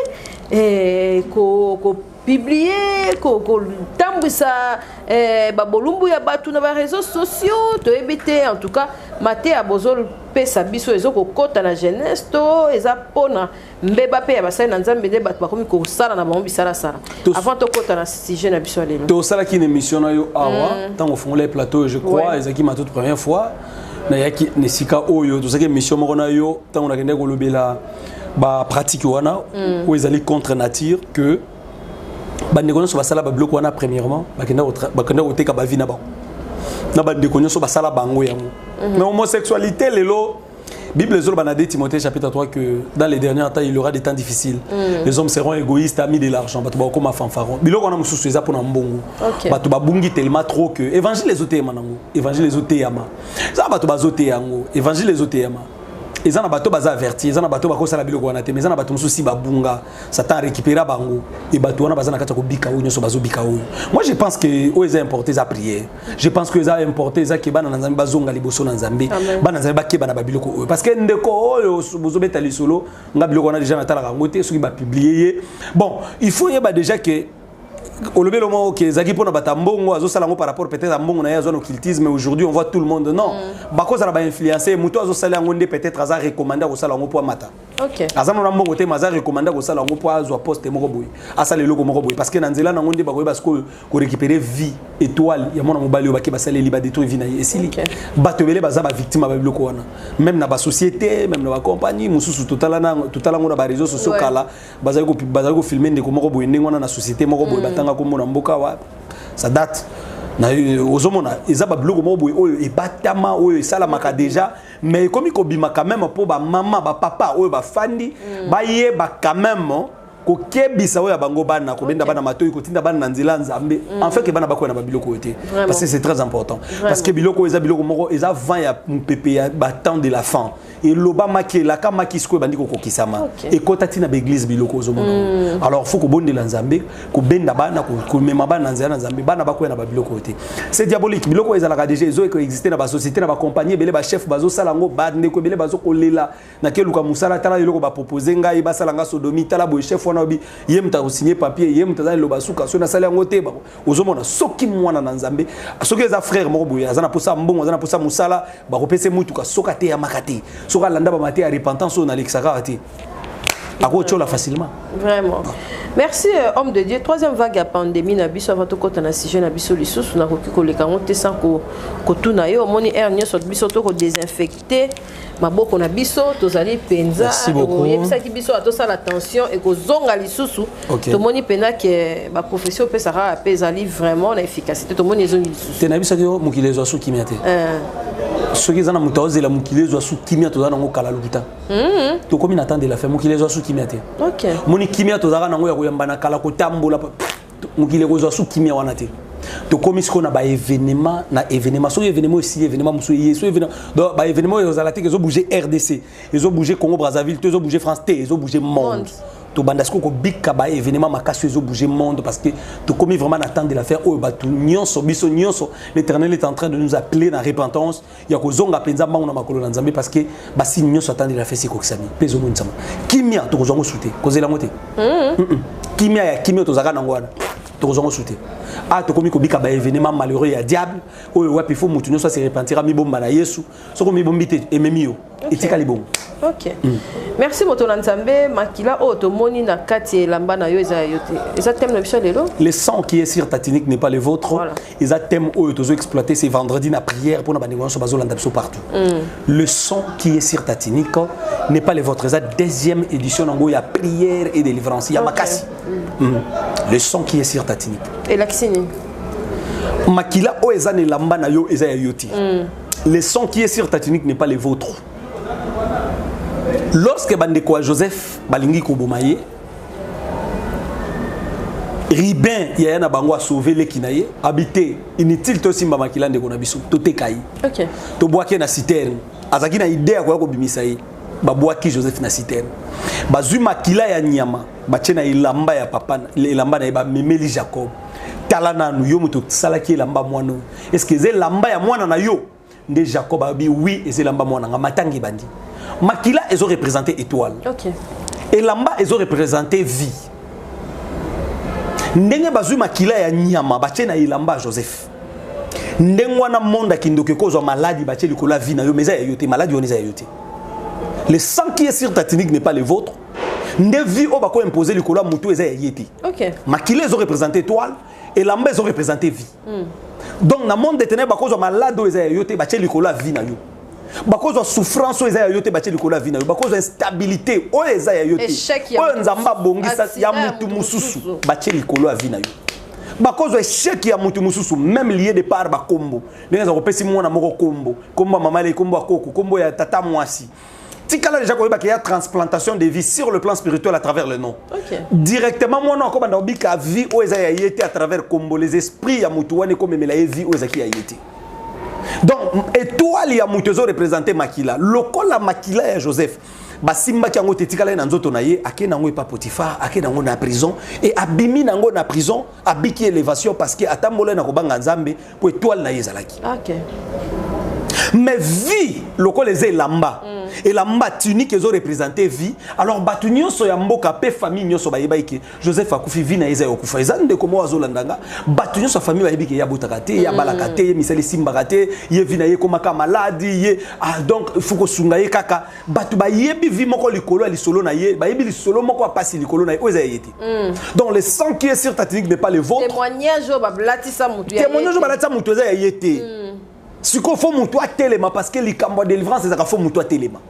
Speaker 1: eh, ko, ko publier kotambwisa eh, babolumbu ya bato na bareseau sociaux toyebi te en tout cas mateya bozopesa biso ezokokota na jeunesse to eza mpona mbeba mpe ya basali na nzambe nde bato bakomi kosala na bango bisalasala avant tokota na sujet na biso ya lelo tosalaki na émission na yo
Speaker 2: awa mm. ntango ofungolaki plateau je crois ezalaki ma toute première fois nayaki na esika oyo tozalaki émission moko na yo ntango nakendaki kolobela bapratique wana mm. oyo ezali contre nature que bandeko nyonso basala babiloko wana premièrement bakenda koteka bavi na bango na bandeko nyonso basala bango yango mm-hmm. mais homosexualité lelo Bible est dans 2 Timothée chapitre 3 que dans les derniers temps il y aura des temps difficiles. Mm. Les hommes seront égoïstes, amis de l'argent, batu bako ma fanfaron. Biloko na mususu eza pona mbongo. Okay. Batu babungi tellement trop que évangile les autres manango, évangile les autres yama. Ça batu bazote yango, évangile les autres yama. Eza na bato baza averti, eza na bato bakosala biloko wana te, mais eza na bato mususu si babunga. Satan a récupéré bango et bato wana baza na kati ya kobika oyo nyonso bazobika oyo moi je pense que oyo eza importe eza prière je pense que eza importe eza ke bana na nzambe bazonga liboso na nzambe bana nzambe bakeba na babiloko oyo parce que ndeko oyo bozobeta lisolo nga biloko wana déjà natalaka yango te soki bapublie ye bon il faut yeba déjà ke olobi elongo moko ke ezalaki mpo na bato ya mbongo azosala yango par rapport peut-être ya mbongo na ye azwa na occultisme aujourd'hui on voit tout le monde non mm. bakozala bainfluence moto azosala yango nde peut-être aza recommande akosala yango mpo amata Okay. aza nona mbongo
Speaker 1: te maza
Speaker 2: recommanda kosala yango mpo azwa poste moko boye asala eloko moko boye parce que na nzela nango nde bakoyeba sikoyo korécupere vie étoile ya mwana mobali oyo bake basaleli badétruire vie na ye esili okay. bato ebele baza bavictime ya babiloko wana meme na basociété meme na bacompagnie mosusu totala yango na bareseau sociaux ouais. kala bazali kofilme ndeko moko boye ndenge wana na société moko boye mm. batanga kombo na mboka wa sa date ozomona eza babiloko moko boye oyo ebatama oyo esalamaka déjà mais ekomi kobima quand même mpo bamama bapapa oyo bafandi mm. bayeba quand même kokebisa oyo ya bango bana kobenda bana matoi kotinda bana na nzela nzambe mm. en fait ke bana bakoya na babiloko oyo te parce que c'est très important Vraiment. parce que biloko oyo eza biloko moko eza vent ya mopepe ya batemps de la fin elobamaki elakamaki sikoyo ebandi kokokisama okay. ekota ntina baeglise biloko ozomona mm. alors faut kobondela nzambe kobenda bana komema bana na nzela na nzambe bana bakwea na babiloko oyo te se diabolique biloko oyo ezalaka deja ezo ekoexiste na basociété na bacompagnie ebele bachef bazosala yango bandeko ebele bazokolela nakeluka mosala tala eloko bapropose ngai basala ngai sodomi tala boye chef wana obi ye moto akosigne papier ye moto aza liloba suka soki nasali yango te ozomona soki mwana na nzambe soki eza frère moko boye aza na mposa ya mbongo aza na mposa ya mosala bakopesa ye motuka soki ateyamaka te soki alanda bamate ya repentance oyo nalekisaka te akotyola facilement vraiment
Speaker 1: merci euh, homme de dieu troisième vague ya pandémie na biso avant tokɔta na sujet na biso lisusu nakoki koleka yango te sans kotuna ye omoni aire nyonso biso tokodesinfecte maboko na biso tozali mpenza oyebisaki
Speaker 2: biso atosala
Speaker 1: tension ekozonga lisusu okay. tomoni mpenza ke baprofession opesaka mpe ezali vraiment na efficacité tomoni ezongi lisusu te nayebisaki yo mokili ezwa
Speaker 2: su kimia te eh. soki eza na moto aozela mokili ezwa su kimia toza nango kala lokuta Mm. tokomi na temps de la fin mokili ezwa su kimia te okay. moni kimia tozalaka nango ya koyamba na kala kotambola mokili ekozwa su kimia wana te tokomi sikoyo na baevenema na evenema soki evenema oyo esili evenema mosusu eye so evenema donc baevenema oyo ezala te ezobouge rdc ezobouge congo brazzaville to ezobouge france te ezobouge monde tobanda sikoyo kobika baevenema makasi oyo ezobouge monde parce que tokomi vraiment na temps de la faire oyo bato nyonso biso nyonso l'éternel est en train de nous appeler na repentance ya kozonga mpenza mbango na makolo na nzambe parce que basini nyonso atandi na fesi ekokisami mpe ezomonisama kimia tokozwa ngo sute kozela yango te mm-hmm. kimia ya kimia tozalaka nango wana tokozwa ngo sute a ah, tokomi kobika baevenema malheureux ya diable oyo wapi fo motu nyonso aserepentira mibomba na yesu soki omibombi te ememi yo etikali bongo ok mm.
Speaker 1: merci moto na nzambe makila oyo tomoni na kati ya elamba na yo eza ya yo te eza thème na biso lelo le sang qui est sur ta
Speaker 2: tunique n'est pas le vôtre voilà. eza thème oyo tozo exploiter c'est vendredi na prière mpona bandeko nyonso bazolanda biso partout mm. le sang qui est sur ta tunique n'est pas le vôtre eza deuxième édition nango ya prière et délivrance ya okay. makasi mm. Mm. le sang qui est sur ta tunique elakisi nini makila oyo eza na elamba na yo eza ya yo te mm. Le sang qui est sur ta tunique n'est pas le vôtre. Lorsque bandeko ya Joseph balingi koboma ye, Ribin yaya na bango a sauvé leki na ye, habité inutile to simba makila ndeko na biso, to teka ye. OK. To boake na citerne. Azaki na idée ya koya kobimisa ye. Ba boaki Joseph na citerne. Bazui makila ya nyama, batie na elamba ya papa, elamba na ye ba memeli Jacob. Tala nanu yo moto salaki elamba mwana est ce que eza elamba ya mwana na yo nde jacob alobi oui eza elamba mwana nga matanga ebandi makila ezo représente étoile okay. elamba ezo représente vie ndenge bazwi makila ya nyama batye na elamba ya joseph ndenge wana monde akindoki ekozwa maladi batye likolo ya vie na yo mais eza ya yo te maladi wana eza ya yo te le sang qui est sur ta tunique n'est pas le vôtre nde vie oyo bakoimpose likolo ya motu eza ya ye te okay. makila ezo représente étoile elamba ezo représente vie mm. donc na monde de ténèbre bakozwa malade oyo eza ya yo te batye likolo ya vie na yo bakozwa souffrance oyo eza ya yo te batye likolo ya vie na yo bakozwa instabilité oyo eza ya yo te oyo nzambe abongisa ya motu mosusu batye likolo ya vie na yo bakozwa esheki ya motu mosusu meme lie de part bakombo ndenge eza kopesi mwana moko kombo kombo ya mama lei kombo ya koko kombo ya tata mwasi tikala déjà koyeba qu'il y a transplantation de vie sur le plan spirituel à travers le nom okay. directement mwana wako banda obika vie oyo eza ya ye te à travers kombo les esprits ya motu wana ekomemela ye vie oyo ezalaki ya ye te donc étoile ya motu ezo représente makila lokola makila ya joseph basimbaki yango te etikala ye na nzoto na ye akei nango epa potifar akei nango na prison e abimi nango na prison abiki élévation parce que atambola ye na kobanga nzambe po étoile na ye ezalaki okay. mais vie lokola eza elamba mm. elamba tunique ezo représente vie alors bato nyonso ya mboka mpe famille nyonso bayebaki ke joseph akufi vie na ye eza ya kokufa eza ndeko moko azolanda nga bato nyonso ya famille bayebi ke ye abotaka te ye abalaka te ye misala esimbaka te ye vie na ye ekomaka maladi ye ah, donc faut kosunga ye kaka bato bayebi vie moko likolo ya lisolo na ye bayebi lisolo moko ya mpasi likolo na ye oyo eza ya ye te Mm. Donc le sang qui est sur ta tunique n'est pas le vôtre. Témoignage au balatisa
Speaker 1: mutu. Témoignage au balatisa mutu eza ya
Speaker 2: yete. Mm. Siko faut mutu atelema parce que likambo délivrance ezaka faut mutu atelema.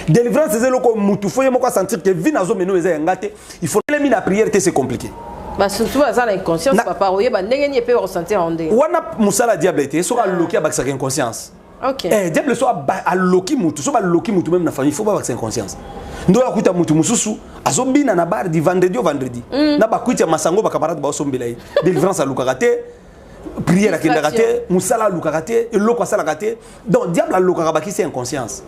Speaker 2: Délivrance ezelo ko mutu faut yemoko sentir que vie nazo meno eza yanga te. Il faut les mine la prière c'est compliqué. Bah surtout ça
Speaker 1: l'inconscience papa oyeba ndenge ni pe ressentir en ndenge. Wana musala diable
Speaker 2: te soka loki abakisa inconscience. Okay. Eh, diable so aloki mutu so baloki mutu meme na famille faut babakisa inconscience ndo akuta mutu mosusu azobina na bar di vendredi o vendredi mm. na bakwiti ya masango bacamarade baosombela ye délivrance alukaka te prière akendaka te mosala alukaka te eloko asalaka te donc diable alokaka bakisi inconscience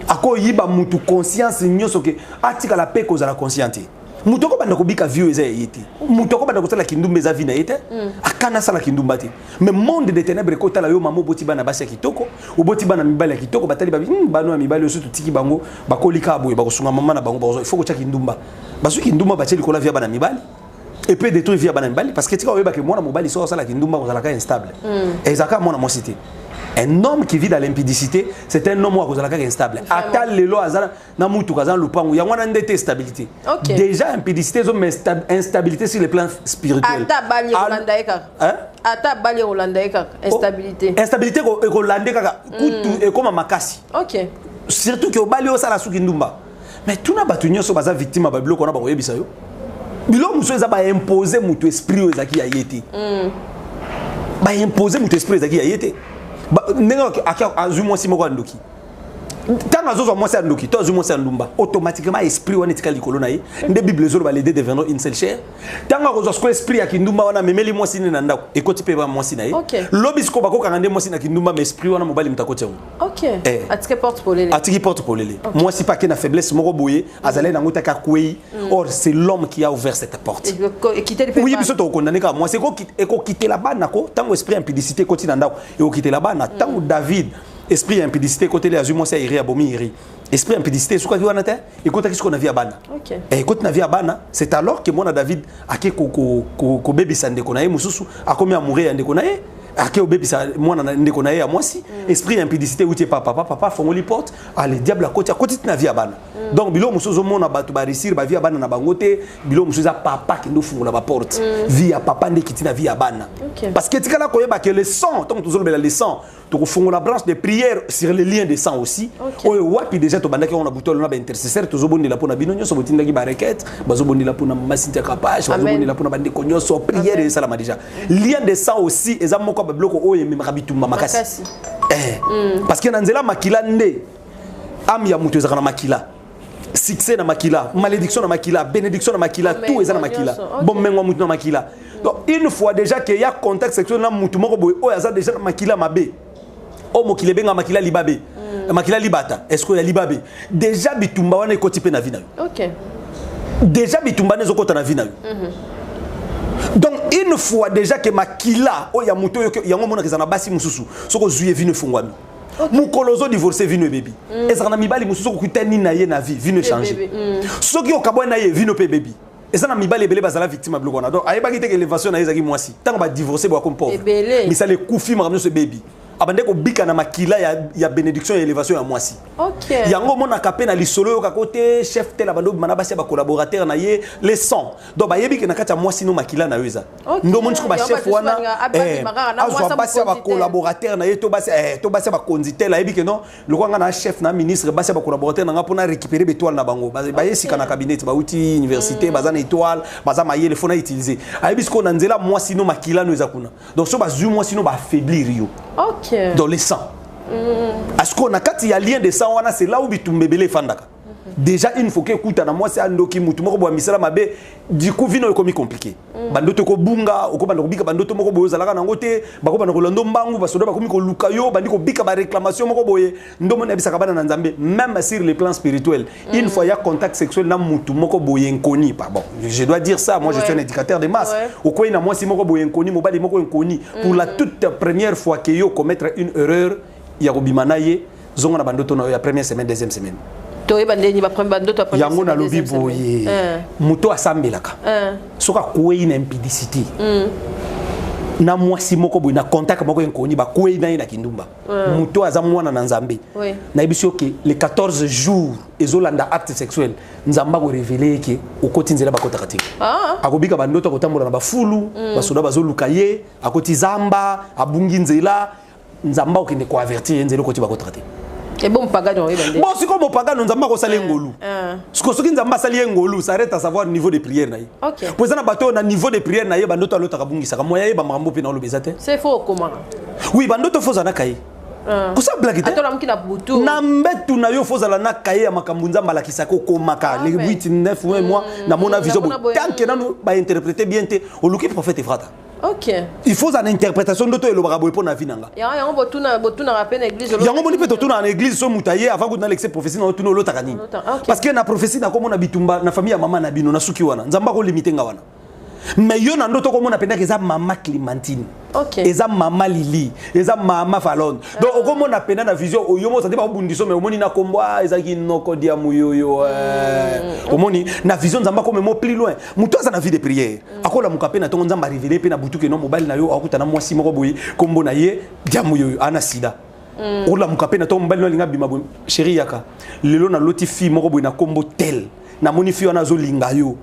Speaker 2: akoyiba mutu conscience nyonso ke atikala mpe kozala conscient te moto akobanda kobika vie oyo eza ya ye te moto akobanda kosala kindumba eza vie na ye te mm. akana asala kindumba te mais monde de ténèbre ekotala yo mama oboti bana basi ya kitoko oboti bana mibali ya kitoko batali babi hmm, bano ya mibali oyo so totiki bango bakoli kaka boye bakosunga mama na bango bakozwa ifo kotya kindumba bazwi kindumba batye likolo ya vie ya bana mibali epe detruire vie ya bana mibali parce que tika oyebake mwana mobali soki osala kindumba kozalaka instable mm. ezalaka mwana mwasi te un homme qui vit dans l'impudicité c'est un homme oyo akozala kaka instable ata lelo aza na mutuka aza na lopango yango wana nde te stabilité okay. déjà impudicité ezo mais instabilité sur le plan spirituel ata bali ekolanda ye
Speaker 1: kaka hein? ata bali ekolanda ye kaka instabilité oh, instabilité
Speaker 2: ekolande kaka mm. kutu mm. ekoma makasi okay.
Speaker 1: surtout ke obali
Speaker 2: osala suki ndumba mais tuna bato nyonso baza victime ya babiloko wana bakoyebisa yo biloko mosusu eza baimpose moto esprit oyo ezalaki ya ye te mm. baimpose moto esprit ezalaki ya ye te ndenge azwi mwasi moko ya ndoki ntango azozwa mwasi ya ndoki to azwi mwasi ya ndumba automatiquement esprit wana etikali likolo na ye nde bible ezoloba les deux deviendront une seule chair ntango akozwa sikoyo esprit ya kindumba wana amemeli mwasi nde na ndako ekoti mpe ba mwasi na ye lobi sikoyo bakokanga nde mwasi na kindumba ma esprit wana mobali moto akoti yango eh.
Speaker 1: atiki porte polele
Speaker 2: mwasi mpe ake na faiblesse moko boye azalaki nango taki akwei mm. or c'est l'homme qui a ouvert cette porte oyi
Speaker 1: biso tokokondane kaka mwasi
Speaker 2: ekokitela bana ko ntango esprit ya impudicité ekoti na ndako ekokitela bana ntango mm. david esprit ya impudicité ekoteli azwi mwasi ya iri abomi iri esprit ya impudicité esukaki wana te ekotaki sikoyo na vie ya bana okay. Eh, ekoti na vie ya bana c'est alors que mwana david ake kobebisa ko, ko, ko ndeko na ye mosusu akomi amoureux ya ndeko na ye ake obebisa mwana na ndeko na ye ya mwasi mm. esprit ya impudicité euti epa papa papa afongoli porte ale ah, diable akoti akoti ti na vie ya bana mm. donc biloko mosusu ozomona bato baresir bavie ya bana na bango te biloko mosusu eza papa kende ofungola baporte mm. vie ya papa nde ekiti na vie ya bana okay. parce que etikala koyeba ke le sang ntango tozolobela le sang tokofongola branche de prière sur le lien de sang aussi okay. oyo wapi déjà tobandaki yango na butu alona baintercesseur tozobondela mpo na bino nyonso botindaki barequete bazobondela mpo na masintia kapash bazobondela mpo na bandeko nyonso prière esalama déjà lien de sang aussi eza moko ya babiloko oyo ememaka bitumba makasi eh. mm. parce que na nzela makila nde ame ya moto ezalaka na makila succès na makila malédiction na makila bénédiction na makila tout eza na makila bomengo mutu na makila donc une fois déjà que ya contact sexuel na mutu moko boye oyo aza déjà na makila mabe oyo mokili ebenga makila libabe mm. makila libata est ce que ya libabe déjà bitumba wana ekoti mpe na vi na yo okay. déjà bitumba na ezokota na vi na yo mm -hmm. donc une fois déjà que makila oyo ya moto yango omonaka eza na basi mosusu soki ozwi ye vino efungwami mokolo ozo divorce vino ebebi mm. ezalaka na mibali mosusu okutani na ye na vie vino echange mm. soki okabwani na ye vino mpe ebebi eza na mibali ebele bazala victime ya biloko wana donc ayebaki te ke elevation na ye ezalaki mwasi ntango badivorce boyakomi pauvre misala ekufi makambo nyonso ebebi abande kobika na makila ya, ya bénédiction ya élévation ya mwasi okay. yango
Speaker 1: omonaka mpe na
Speaker 2: lisolo oyokaka te chef tel abande obima na basi ya bacollaborateur na ye les 100 donc bayebi ke na kati ya mwasi no makila na yo eza ndo omoni siko bachef wana eh, azwa basi ya bacolaborateur na ye to basi eh, ya bakonzi tel ayebi ke non lokola ngai na chef na ministre basi ya bacolaborateur na ngai mpo na récupere baetoile na bango baye sika na cabinet bauti université mm. baza na étoile baza mayele fo na utilise ayebi sikoyo na nzela mwasi no makila no eza kuna donc so bazwi mwasi no baaffaiblir yo dans le sang mm. asikoyo na kati ya lien de sang wana c'est là où bitumba ebele efandaka déjà une fois ekutana mwasi andoki mutu moko boya misala mabe diku vino ekomi compliqué mm. bandoto ekobunga okobanda kobika bandoto moko boye ozalaka nango te bakobanda kolanda mbangu basoda bakomi koluka yo bandi kobika baréclamation moko boye ndombo nayebisaka bana na nzambe même sur le plan spirituel mm. une fois ya contact sexuel na mutu moko boye nkoni pardon je dois dire ça moi ouais. je suis un éducateur de masse ouais. okwei na mwasi moko boye nkoni mobali moko nkoni mm. pour la mm. toute première fois que yo commettre une erreur ya kobima na ye zonga na bandoto na yo ya première semaine deuxième semaine toyeba ndenge
Speaker 1: bandoto ya yango nalobi boye
Speaker 2: eh. moto asambelaka eh. soki akwei na impidicité hmm. na mwasi moko boye na contact moko ya nkoni bakwei na ye na kindumba eh. moto aza mwana na nzambe nayebisi yo ke le 14 jour ezolanda acte sexuel nzambe akorevele ye ke okoti nzela bakotaka te ah. akobika bandoto akotambola na bafulu hmm. basoda bazoluka ye akoti zamba abungi nzela nzambe akokende ko avertir ye nzela okoti bakotaka te ebo mopagano
Speaker 1: oyeba nde bon sikoyo mopagano nzambe
Speaker 2: akosala ye eh, ngolu eh. sikoyo soki nzambe asali ye ngolu ça arrête à savoir niveau de prière na ye mpo eza na bato oyo na
Speaker 1: niveau
Speaker 2: de prière na ye bandoto alotaka abungisaka moya ye bamakambo mpe na oloba eza te c'est faux okomaka
Speaker 1: oui bandoto fo
Speaker 2: ozalaka ye eh. kosala blaki te na
Speaker 1: mbetu na yo
Speaker 2: fozala na kaye ya makambo nzambe alakisaka okomaka ah, le 8 9 mois hmm. namona vision botanke nanu bainterprete bien te oluki prophète efrata Okay. il
Speaker 1: faut ozala na
Speaker 2: interprétation ndoto elobaka boye mpo na vi na nga yango
Speaker 1: botunaka mpe na église yango moni mpe totunaka na
Speaker 2: église so moto aye avant kutu nalekise prophétie na otuna olotaka nini parce que na prophétie nakomona bitumba na famille ya mama na bino nasuki wana nzambe akolimite nga wana mais yo na ndoto okomona mpendaka eza mama clémentine okay. eza
Speaker 1: mama lili
Speaker 2: eza mama falone uh. donc okomona mpenda na vision oyo mozali bakobundiso mai omoni na nkombo a ah, ezalaki noko dia moyoyo eh. mm. omoni na vision nzambe akomema pli loin moto aza na vie de prière Mm. akolamuka mpe na ntongo nzambe arevele mpe na butu keno mobali na yo akutana mwasi moko boye nkombo na ye diamo yoyo ana sida mm. olamuka mpe na ntongo mobali no alinga bima boye sheri yaka lelo naloti fille moko boye na nkombo tel namoni fille wana azolinga yo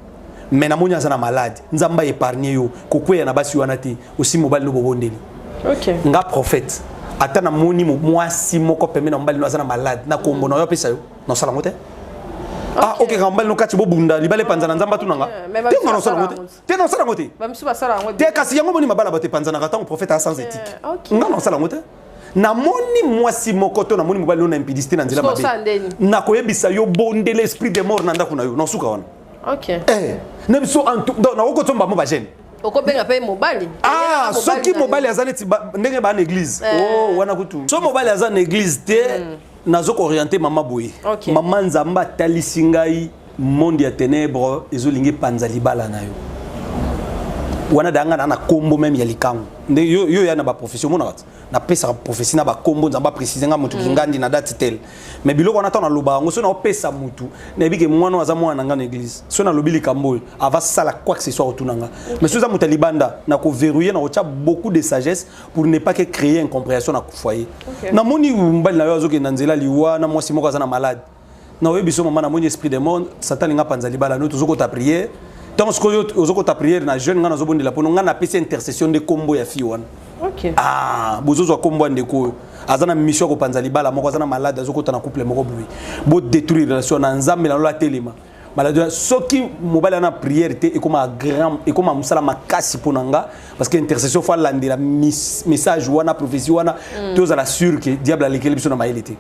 Speaker 2: me namoni aza na malade nzambe aépargne yo kokweya na basi wana te osi mobali no bobondeli okay. nga
Speaker 1: prophète
Speaker 2: ata namoni mwasi moko pembe na mobali no aza na malade na kombo na yo apesa yo nasala yango te ah ok kaka mobali nokati bobunda libala epanzana nzambe atuna nga te nga nasala yango te te nasala yango te te
Speaker 1: kasi yango moni mabala bato
Speaker 2: epanzanaka ntango profete a sans éthique eh, nga nasala yango te namoni mwasi moko to namoni mobali oyo na impidisite na nzela mabe nakoyebisa yo bondela esprit de mort na ndako na yo nasuka wana eh,
Speaker 1: na biso
Speaker 2: nakokotsomba mo bagene okobenga mpe
Speaker 1: mobali ah soki
Speaker 2: mobali aza neti ndenge baa na église eh. oh, wana kutu so mobali aza na église te hmm. nazo ko orienter mama boye okay. mama nzamba atalisi ngai monde ya ténèbres ezolingi epanza libala na yo wana da nga na na kombo meme ya likangu nde yo yo ya na ba profession mona kati na pesa prophetie na ba kombo nzamba préciser nga mutu mm. kingandi na date tel mais biloko na tana loba ngo so na pesa mutu na bike mwana aza mwana nga na église so na lobi likambo ava sala quoi que ce soit otuna nga mais so za mutu libanda na ko verrouiller na ko beaucoup de sagesse pour ne pas que créer incomprehension na foyer okay. na moni mbali na yo azoke na nzela liwa na mwasi moko aza na malade na oyebi so mama na moni esprit de monde satan linga panza libala no tozoko ta prière tant ce que ozoko ta prière na jeune nga nazo bondela pono nga na pesi intercession de combo ya fi wana okay. ah
Speaker 1: bozozo ya
Speaker 2: combo ande ko aza na mission ko panza libala moko aza na malade azoko ta na couple moko boye bo détruire relation na nzambe na lola telema maladie soki mobali ana prière te ekoma grand ekoma mosala makasi mpo na nga parce que intercession fo alandela message wana prophétie wana mm. tozala sur ke diable alekeli biso na mayele te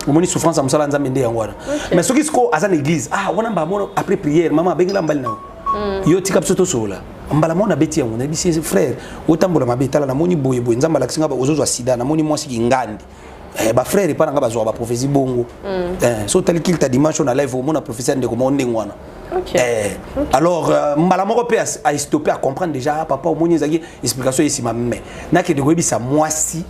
Speaker 2: omoni souffrance ya mosala ya nzambe nde yango wana mais soki sikoyo aza na église ah wana mbala moko après prière mama abengela mbali na yo mm. yo tika biso tosolola mbala moko nabeti yango nayebisi frère otambola mabe tala namoni boye boye nzambe alakisi nga ozozwa sida namoni mwasi kingandi Eh, ba frère epa na nga bazwaka baprophésie bongo mm. eh, so otali kilta dimanche na live omona prophésie ya ndeko moko ndenge wana Okay. Eh, okay. alors euh, mbala moko mpe astoppe a comprendre déjà ah, papa omoni ezalaki explication ye nsima mme nakende koyebisa mwasi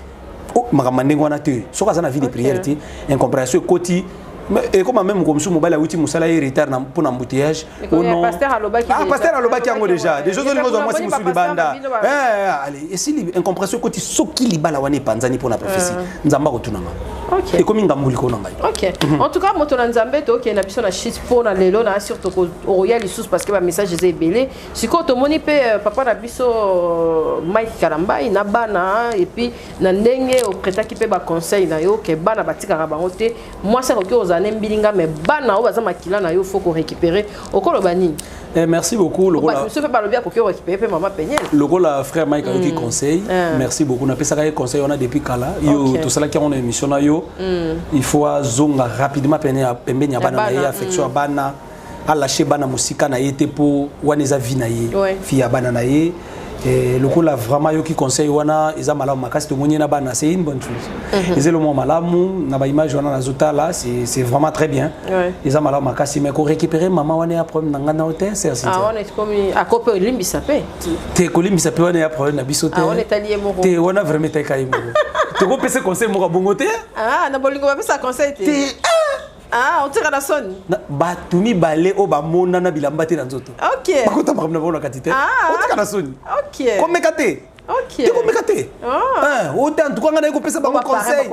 Speaker 2: oh, makambo ndenge wana te soki aza na vie de prière te incompréhension ekoti ekoma meme ko mosusu mobali awuti mosala ye retard mpo na embouteillage
Speaker 1: pasteur alobaki yango
Speaker 2: déjà déjà ozolinga ozwa mwasi mosusu libanda esili incompression ekoti soki libala wana epanzani mpo na prophesie nzambe akotunanga ekomi ngambo
Speaker 1: likolo na ngai
Speaker 2: ok mhm. en tout cas
Speaker 1: moto na nzambe tokende na biso na chite mpo na lelo na sur tokoya lisusu parce que bamessage eza ebele sikoyo tomoni mpe euh, papa na biso euh, mike kalambai na bana epuis na ndenge opretaki mpe baconseil na yo ke bana batikaka bango te mwasi akoki kozala ne mbilinga me bana oyo baza makila na yo fo korécupere okoloba nini Eh, merci beaucoup
Speaker 2: lokola soki balobi akoki
Speaker 1: orécupere mpe mama peniel lokola frère mike
Speaker 2: ayoki mm. conseil mm. merci beaucoup napesaka ye conseil wana depuis kala yo okay. tosalaki yango na émission na yo mm. il faut azonga rapidement pembeni ya bana na ye affection ya mm. bana alashe bana mosika na ye te mpo wana eza vie na ye ouais. fille ya bana na ye eh, lokola vraiment yoki conseil wana eza malamu makasi tomoni ye na bana c'est une bonne chose mm -hmm. eza elomwa malamu na baimage wana nazotala c'est vraiment très bien ouais. eza malamu makasi mais korécupérer mama wana ya problème na ngai nao te sersiakope
Speaker 1: olimbisa mpe te kolimbisa mpe
Speaker 2: wana ya problème na biso te ah, te wana
Speaker 1: vraiment etali kai
Speaker 2: moko tokopesa conseil moko ya bongo te ah, na bolingo bapesa
Speaker 1: conseil te Ah, otika na soni bato mibale
Speaker 2: oyo bamonana bilamba te na nzoto bakota makambo na
Speaker 1: bango na kati
Speaker 2: te ah. otika na soni komeka te tekomeka
Speaker 1: te
Speaker 2: ah. eh, ota ntuka ngai naye kopesa bango conseil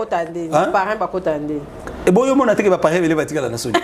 Speaker 1: eboyi eh, omona
Speaker 2: teke baparin ebele batikala na soni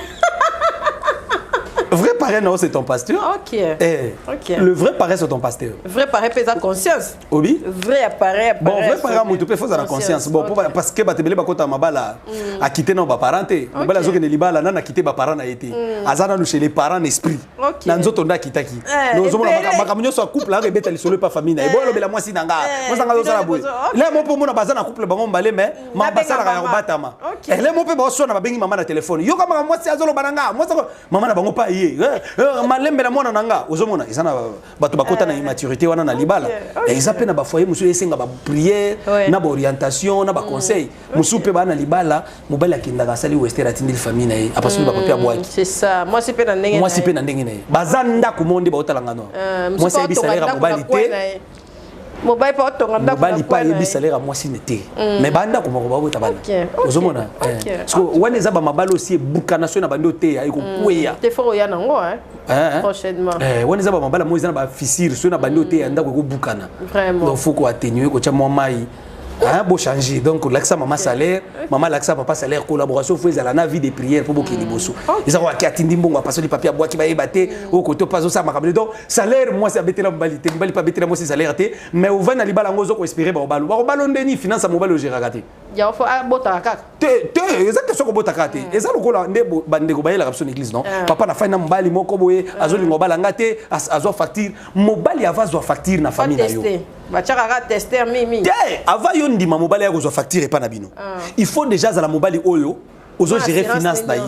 Speaker 2: vrai parrain non c'est ton pasteur ok eh, ok
Speaker 1: le vrai parrain c'est ton
Speaker 2: pasteur vrai parrain pesa
Speaker 1: conscience obi vrai
Speaker 2: appareil appareil
Speaker 1: bon vrai panga mutu pe
Speaker 2: faut avoir conscience bon okay. parce que batebele bakota mabala mm. a quitter na ba parents te okay. mabala zoke ne libala na na quitter ba parents na été mm. azana nous chez les parents n'esprit okay. na nzoto nda kitaki eh, no zomo na maka munyo so couple avec beta lisolo pa famille na eh. ebolo bela mwasi na nga eh. mwasa nga zala boye là mon po mona bazana couple bango mbale mais mm. ma basala ka batama okay. là mon pe ba so na babengi maman na téléphone yo kama mwasi azolo bananga mwasa maman na bango pa ye eh, eh, malembe na mwana na nga ozomona ezana bato bakota na eh. immaturité wana na libala eh, eza mpe na bafoye mosusu esenga bapriere na baorientation na baconseil mm. mosusu mpe baa na libala mobali akendaka asali wester atindeli famille na ye apasoli bako mpe abwakimwasi
Speaker 1: mpe na ndenge na ye baza
Speaker 2: ndako moo nde baotalangano eh, mwasi ayebi salaire ya mobali te
Speaker 1: mobali mpe atonga ndako mobali mpe ayebisa lera
Speaker 2: mwasi ne te mm. mais bandako moko bakota bana ozomona eh. siko wana eza bamabali osi ebukana soki na bandi oteya ekokweya mm. tefort oya nango
Speaker 1: eh, eh. prochainement wana eza bamabali
Speaker 2: yango eza na bafisire soki na bandi oteya ndako ekobukana donc fo koatenue kotya mwa mai Hein, bo changer donc lakisa mama salaire mama lakisa papa salaire collaboration fo ezala na vie de prière mpo bokende liboso mm. eza koyaki atindi mbongo apasoli papi abwaki bayeba te mm. oyo koto mpe azosala makambo te donc salaire mwasi abetela mobali te mobali mpe abetela mwasi salaire te mais ovandi na libala yango ozo koespere baobalo baobalo ndeni finance ya mobali ogeraka te yango fo abotaka
Speaker 1: ah, kaka te te eza
Speaker 2: question kobota kaka te mm. eza lokola nde bandeko bayelaka biso na église non mm. papa nafai na mobali moko boye mm. azolinga obala nga te azwa facture mobali ava azwa facture na famille na yo
Speaker 1: te ava yo ndima
Speaker 2: mobali ya kozwa facture epai na bino il faut déjà azala mobali oyo ozo gérer finance na ye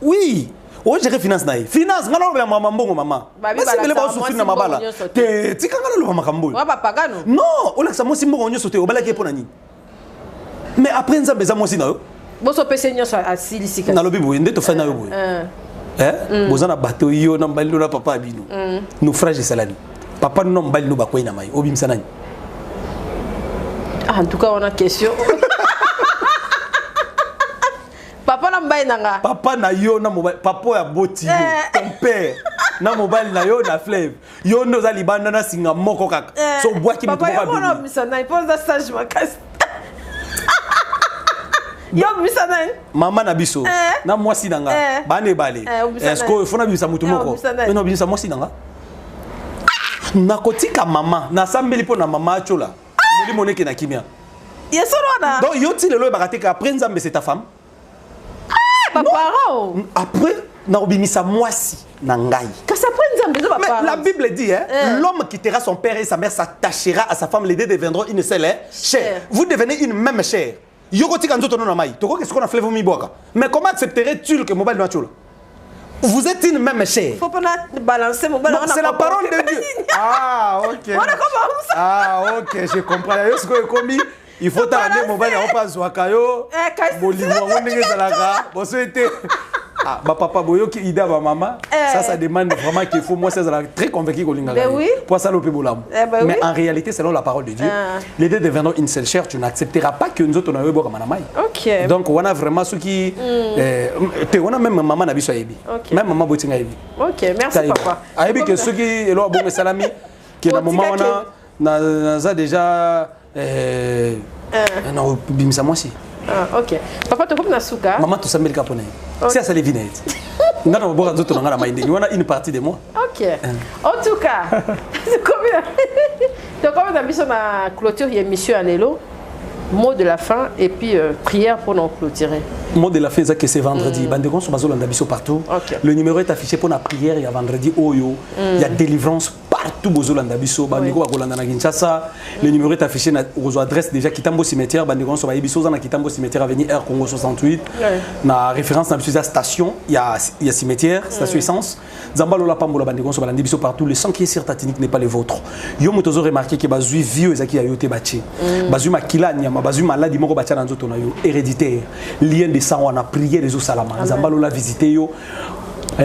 Speaker 2: oui ogere finance na ye finance ngai nalobela mama mbongo mama basengele baosufri na mabala te tika ngai naloba makambo oyo non
Speaker 1: olakisa mwasi
Speaker 2: mbongo nyonso te obalaki ye mpo na nini mais après nzambe eza mwasi na yo boso pese nyonso
Speaker 1: asilisi kasi nalobi boye nde tofai na
Speaker 2: yo boye eh, eh. eh? Mm. boza na bato yo na mbali no na papa ya bino mm. naufrage esalani papa no na mbali no bakwei na mai obimisa nani
Speaker 1: ah, en tout cas wana question papa na mobali na nga papa na yo na
Speaker 2: mobali papa oyo aboti yo ton père na mobali na yo na fleuve yo nde oza libanda na singa moko kaka eh, so obwaki moto moko abima obimisa nani
Speaker 1: mpo oza sage makasi yo obimisa nani mama na biso
Speaker 2: eh. na mwasi na nga eh. bana ebale sikoyo fo nabimisa moto moko na obimisa mwasi na nga nakotika mama nasambeli mpo na mama acola molimo neke na kimia yesolo wana
Speaker 1: donc yo ti lelo oyebaka
Speaker 2: te ke après nzambe c'est ta femme ah,
Speaker 1: ba parents mm, après
Speaker 2: nakobimisa mwasi na ngai kasi après nzambe eza
Speaker 1: mais la bible dit hein, eh.
Speaker 2: l'homme quittera son père et sa mère s'attachera à sa femme les deux deviendront une seule hein, chair vous devenez une même chair yo kotika nzoto no na mai tokoki sikoyo na fleuve omibwaka mais comment accepterais tu que mobali no atyola vous êtes une même chair. Faut pas balancer
Speaker 1: mon ballon. C'est la parole de Dieu.
Speaker 2: Ah, ok. ah, ok, je comprends. Yo, ce que commis. il faut tala nde mobali yango mpe azwaka yo eh, bolingo yango ndenge ezalaka boso ete ah, bapapa boyoki ida bamama eh. ça ça demande vraiment qu'il faut mwasi azalaka très convaincu kolingaka mpo asala ope bolamu eh, mais en réalité selon la parole de dieu ah. les deux devenant une seule chair tu n'accepteras pas que nzoto na yo ebwakama na mai donc wana vraiment soki hmm. te wana même mama na biso ayebi même mama botinga ayebi ayebi ke soki eloko abongo esalami ke na moma wana naza déjà eh, na kobimisa mwasi Ah, ok papa
Speaker 1: tokomi na suka mama tosambeli kaka mpona ye
Speaker 2: si asali vi na ye te nga na koboka nzoto na nga na mai ndenge wana une partie de moi ok eh.
Speaker 1: en tout cas tokomi na biso na clôture ya émission ya lelo mot de la fin et puis euh, prière pour nous clôturer. Mot de la fin, c'est
Speaker 2: que c'est vendredi. Mm. Bande de biso partout. Okay. Le numéro est affiché pour la prière, il y a vendredi, Oyo, oh, mm. il y a délivrance partout bozolanda biso bandeko bakolanda na kinshasa le numéro est affiché na okozwa adresse déjà kitambo cimetière bandeko nyonso bayebi so oza na kitambo cimetière avenue air congo 68 na référence na biso eza station ya, ya cimetière station essence nzambe alola pambola bandeko nyonso balandi biso partout le sang qui est sur ta tunique n'est pas le vôtre yo moto ozo remarquer ke bazwi vieux ezalaki ya yo te batie mm. bazwi makila ya nyama bazwi maladi moko batya na nzoto na yo héréditaire lien de sang wana prière ezosalama nzambe alola visite yo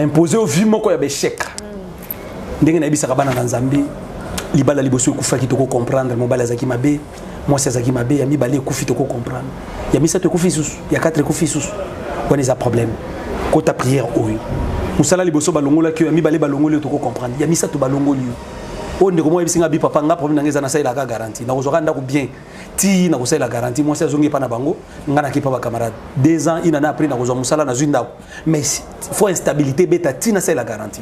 Speaker 2: impose yo vie moko ya baechec ndenge nayebisaka bana na nzambe libala liboso ekufaki toko comprendre mobali azalaki mabe mwasi azalaki mabe ya mibale ekufi toko comprendre ya misato ekufi lisusu ya 4 ekufi lisusu wana eza problème kota prière oyo mosala liboso balongolaki yo ya mibale balongoli yo toko comprendre ya misato balongoli yo oyo ndeko moko ayebisi nga bi papa nga problème na nga eza nasalelaka garantie nakozwaka ndako bien ti nakosalela garantie mwasi azongi epa na bango nga nakepa bacamarade deux ans inana après nakozwa mosala nazwi ndako mais faut instabilité beta tina c'est la garantie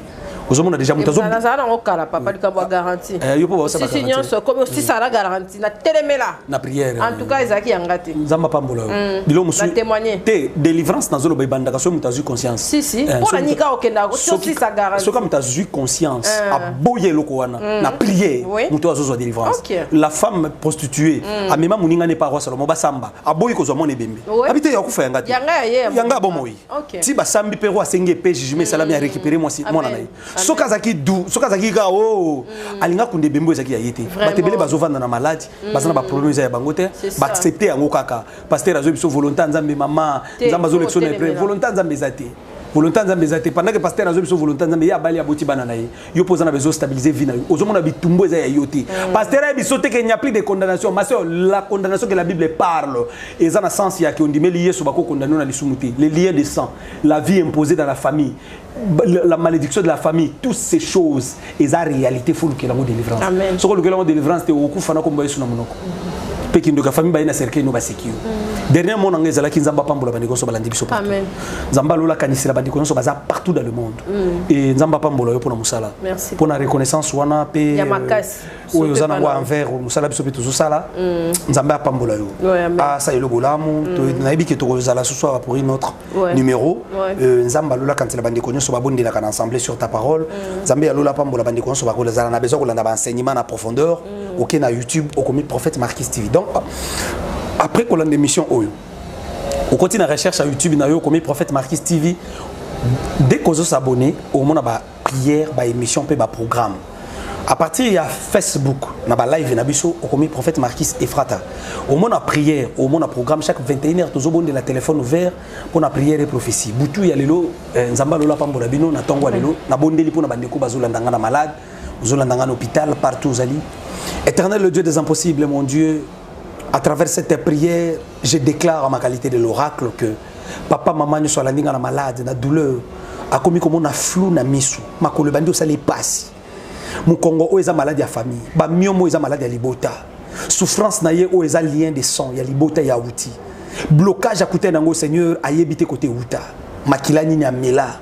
Speaker 2: ozomona déjà moto azozala nango kala papa
Speaker 1: likambo ya garantie eh, yo mpo baosisi
Speaker 2: nyonso ekomi osisala mm.
Speaker 1: garantie na telemela na prière en tout
Speaker 2: cas ezalaki yanga
Speaker 1: te nzambe apambola yo mm.
Speaker 2: bilo mosusu témoigner te
Speaker 1: délivrance
Speaker 2: nazoloba ebandaka soki moto azwi conscience si si eh, mpo na nika
Speaker 1: okendaka osisa garantie soki moto azwi
Speaker 2: conscience eh. aboyi eloko wana mm. na prière moto azozwa délivrance la femme prostituée amema moninga ne paroisse salomo basamba aboyi kozwa mwana ebembe abi te yakufa yanga te yanga abomoyi ti basambi mpe ro asengi epe jugement esalami ya mm. récupérer mwasi mwana na ye soki azalaki du soki azalaki kaka o oh, mm. alinga kunda ebembe ezalaki ya ye te bato ebele bazovanda na maladi mm. baza na baproblème eza ya bango te baaccepte yango kaka pasteur azwi biso volonté ya nzambe mama nzambe azolekisa oh, na epreuve volonté ya nzambe eza te volonté ya nzambe eza te pendant que pasteur azwi biso volonté ya nzambe ye abali aboti bana na ye yo mpo oza na besoin stabiliser vie na yo ozomona bitumbu eza ya yo te mm. pasteur ayebi biso te ke n'y a plus de condamnation ma soeur la condamnation que la bible parle eza na sens ya ke ondimeli yesu bakokondane yo na lisumu te les liens de sang la vie imposée dans la famille la malédiction de la famille toutes ces choses eza réalité fo olukela yango délivrance soki olukela yango
Speaker 1: délivrance te
Speaker 2: okokufa na kombo yesu na monoko mpe kindoki ya famille baye na cercueil no baseki yo mm. dernier mot na ngai ezalaki nzambe apambola bandeko nyonso balandi biso partout nzambe alola kanisela bandeko nyonso baza partout dans le monde mm. e nzambe apambola yo mpo na mosala mpo na reconnaissance
Speaker 1: wana
Speaker 2: mpe euh, oyo
Speaker 1: oza nango
Speaker 2: envers mosala biso mpe tozosala mm. nzambe apambola yo asala ah, eloko bolamu nayebi ke tokozala susu awa pour une autre ouais. numéro ouais. euh, nzambe alola kanisa na bandeko nyonso babondelaka na ensemble sur ta parole mm. nzambe ya lola apambola bandeko nyonso bakolazala na besoin kolanda baenseignement na profondeur mm. oke na youtube okomi prophète marquis tv donc après kolanda émission oyo okoti na recherche ya youtube na yo okomi prophète marquis tv dès kozosabonne omona ba prière ba émission mpe ba programme à partir ya facebook na balive na biso okomi prophète marquis efrata omona prière omona programme chaque 21 heure tozobondela téléphone ouvert mpo na prière e prophétie butu ya lelo eh, nzambe alola apambola bino na ntongo ya lelo nabondeli mpo na bandeko bazolanda ngai na malade ozolanda ngai na hôpital partout ozali éternel le dieu des impossibles mon dieu à travers cette prière je déclare en ma qualité de l'oracle que papa mama nyonso alandi nga na malade na douleur akomi komona flou na misu makolo ebandi osala epasi mokongo oyo eza maladi ya famille bamiomo oyo eza maladi ya libota souffrance na ye oyo eza lien de sang ya libota ya uti blocage akutani yango seigneur ayebi te kote uta makila nini amela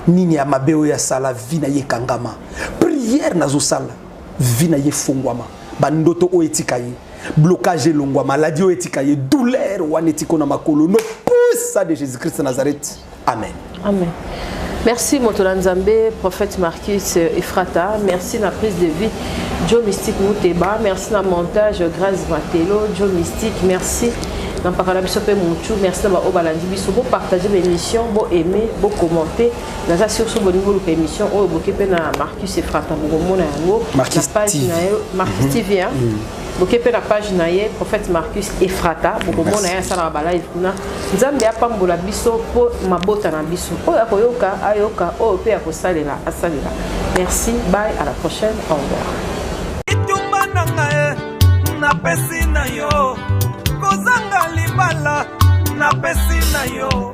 Speaker 2: nini ya mabe oyo asala vi na ye ekangama priere nazosala vie na ye efongwama bandoto oyo etika ye blocage elongwa maladie oyo etika ye douleur wana etiko na makolo no pusa de jésus christ nazareth amen amen
Speaker 1: merci moto na nzambe prophète marcus efrata merci na prise de vie joe mystique muteba merci na montage grace matelo joe mystique merci na mpaka na biso mpe mutu merci na baoyo balandi biso bopartage baémission boaime bocommente naza sur so bolingi oluka émission oyo boke mpe na marcus efrata bokomona yango na page na yo marcus mhm. tv hein? mhm. boke mpe na page na ye prophète marcus efrata bokomona ye asalaka balive kuna nzambe apambola biso mpo mabota na biso oyo akoyoka ayoka oyo mpe akosalela asalela merci bye à la prochaine au revoir etumba
Speaker 4: na ngai napesi na yo kozanga libala napesi na yo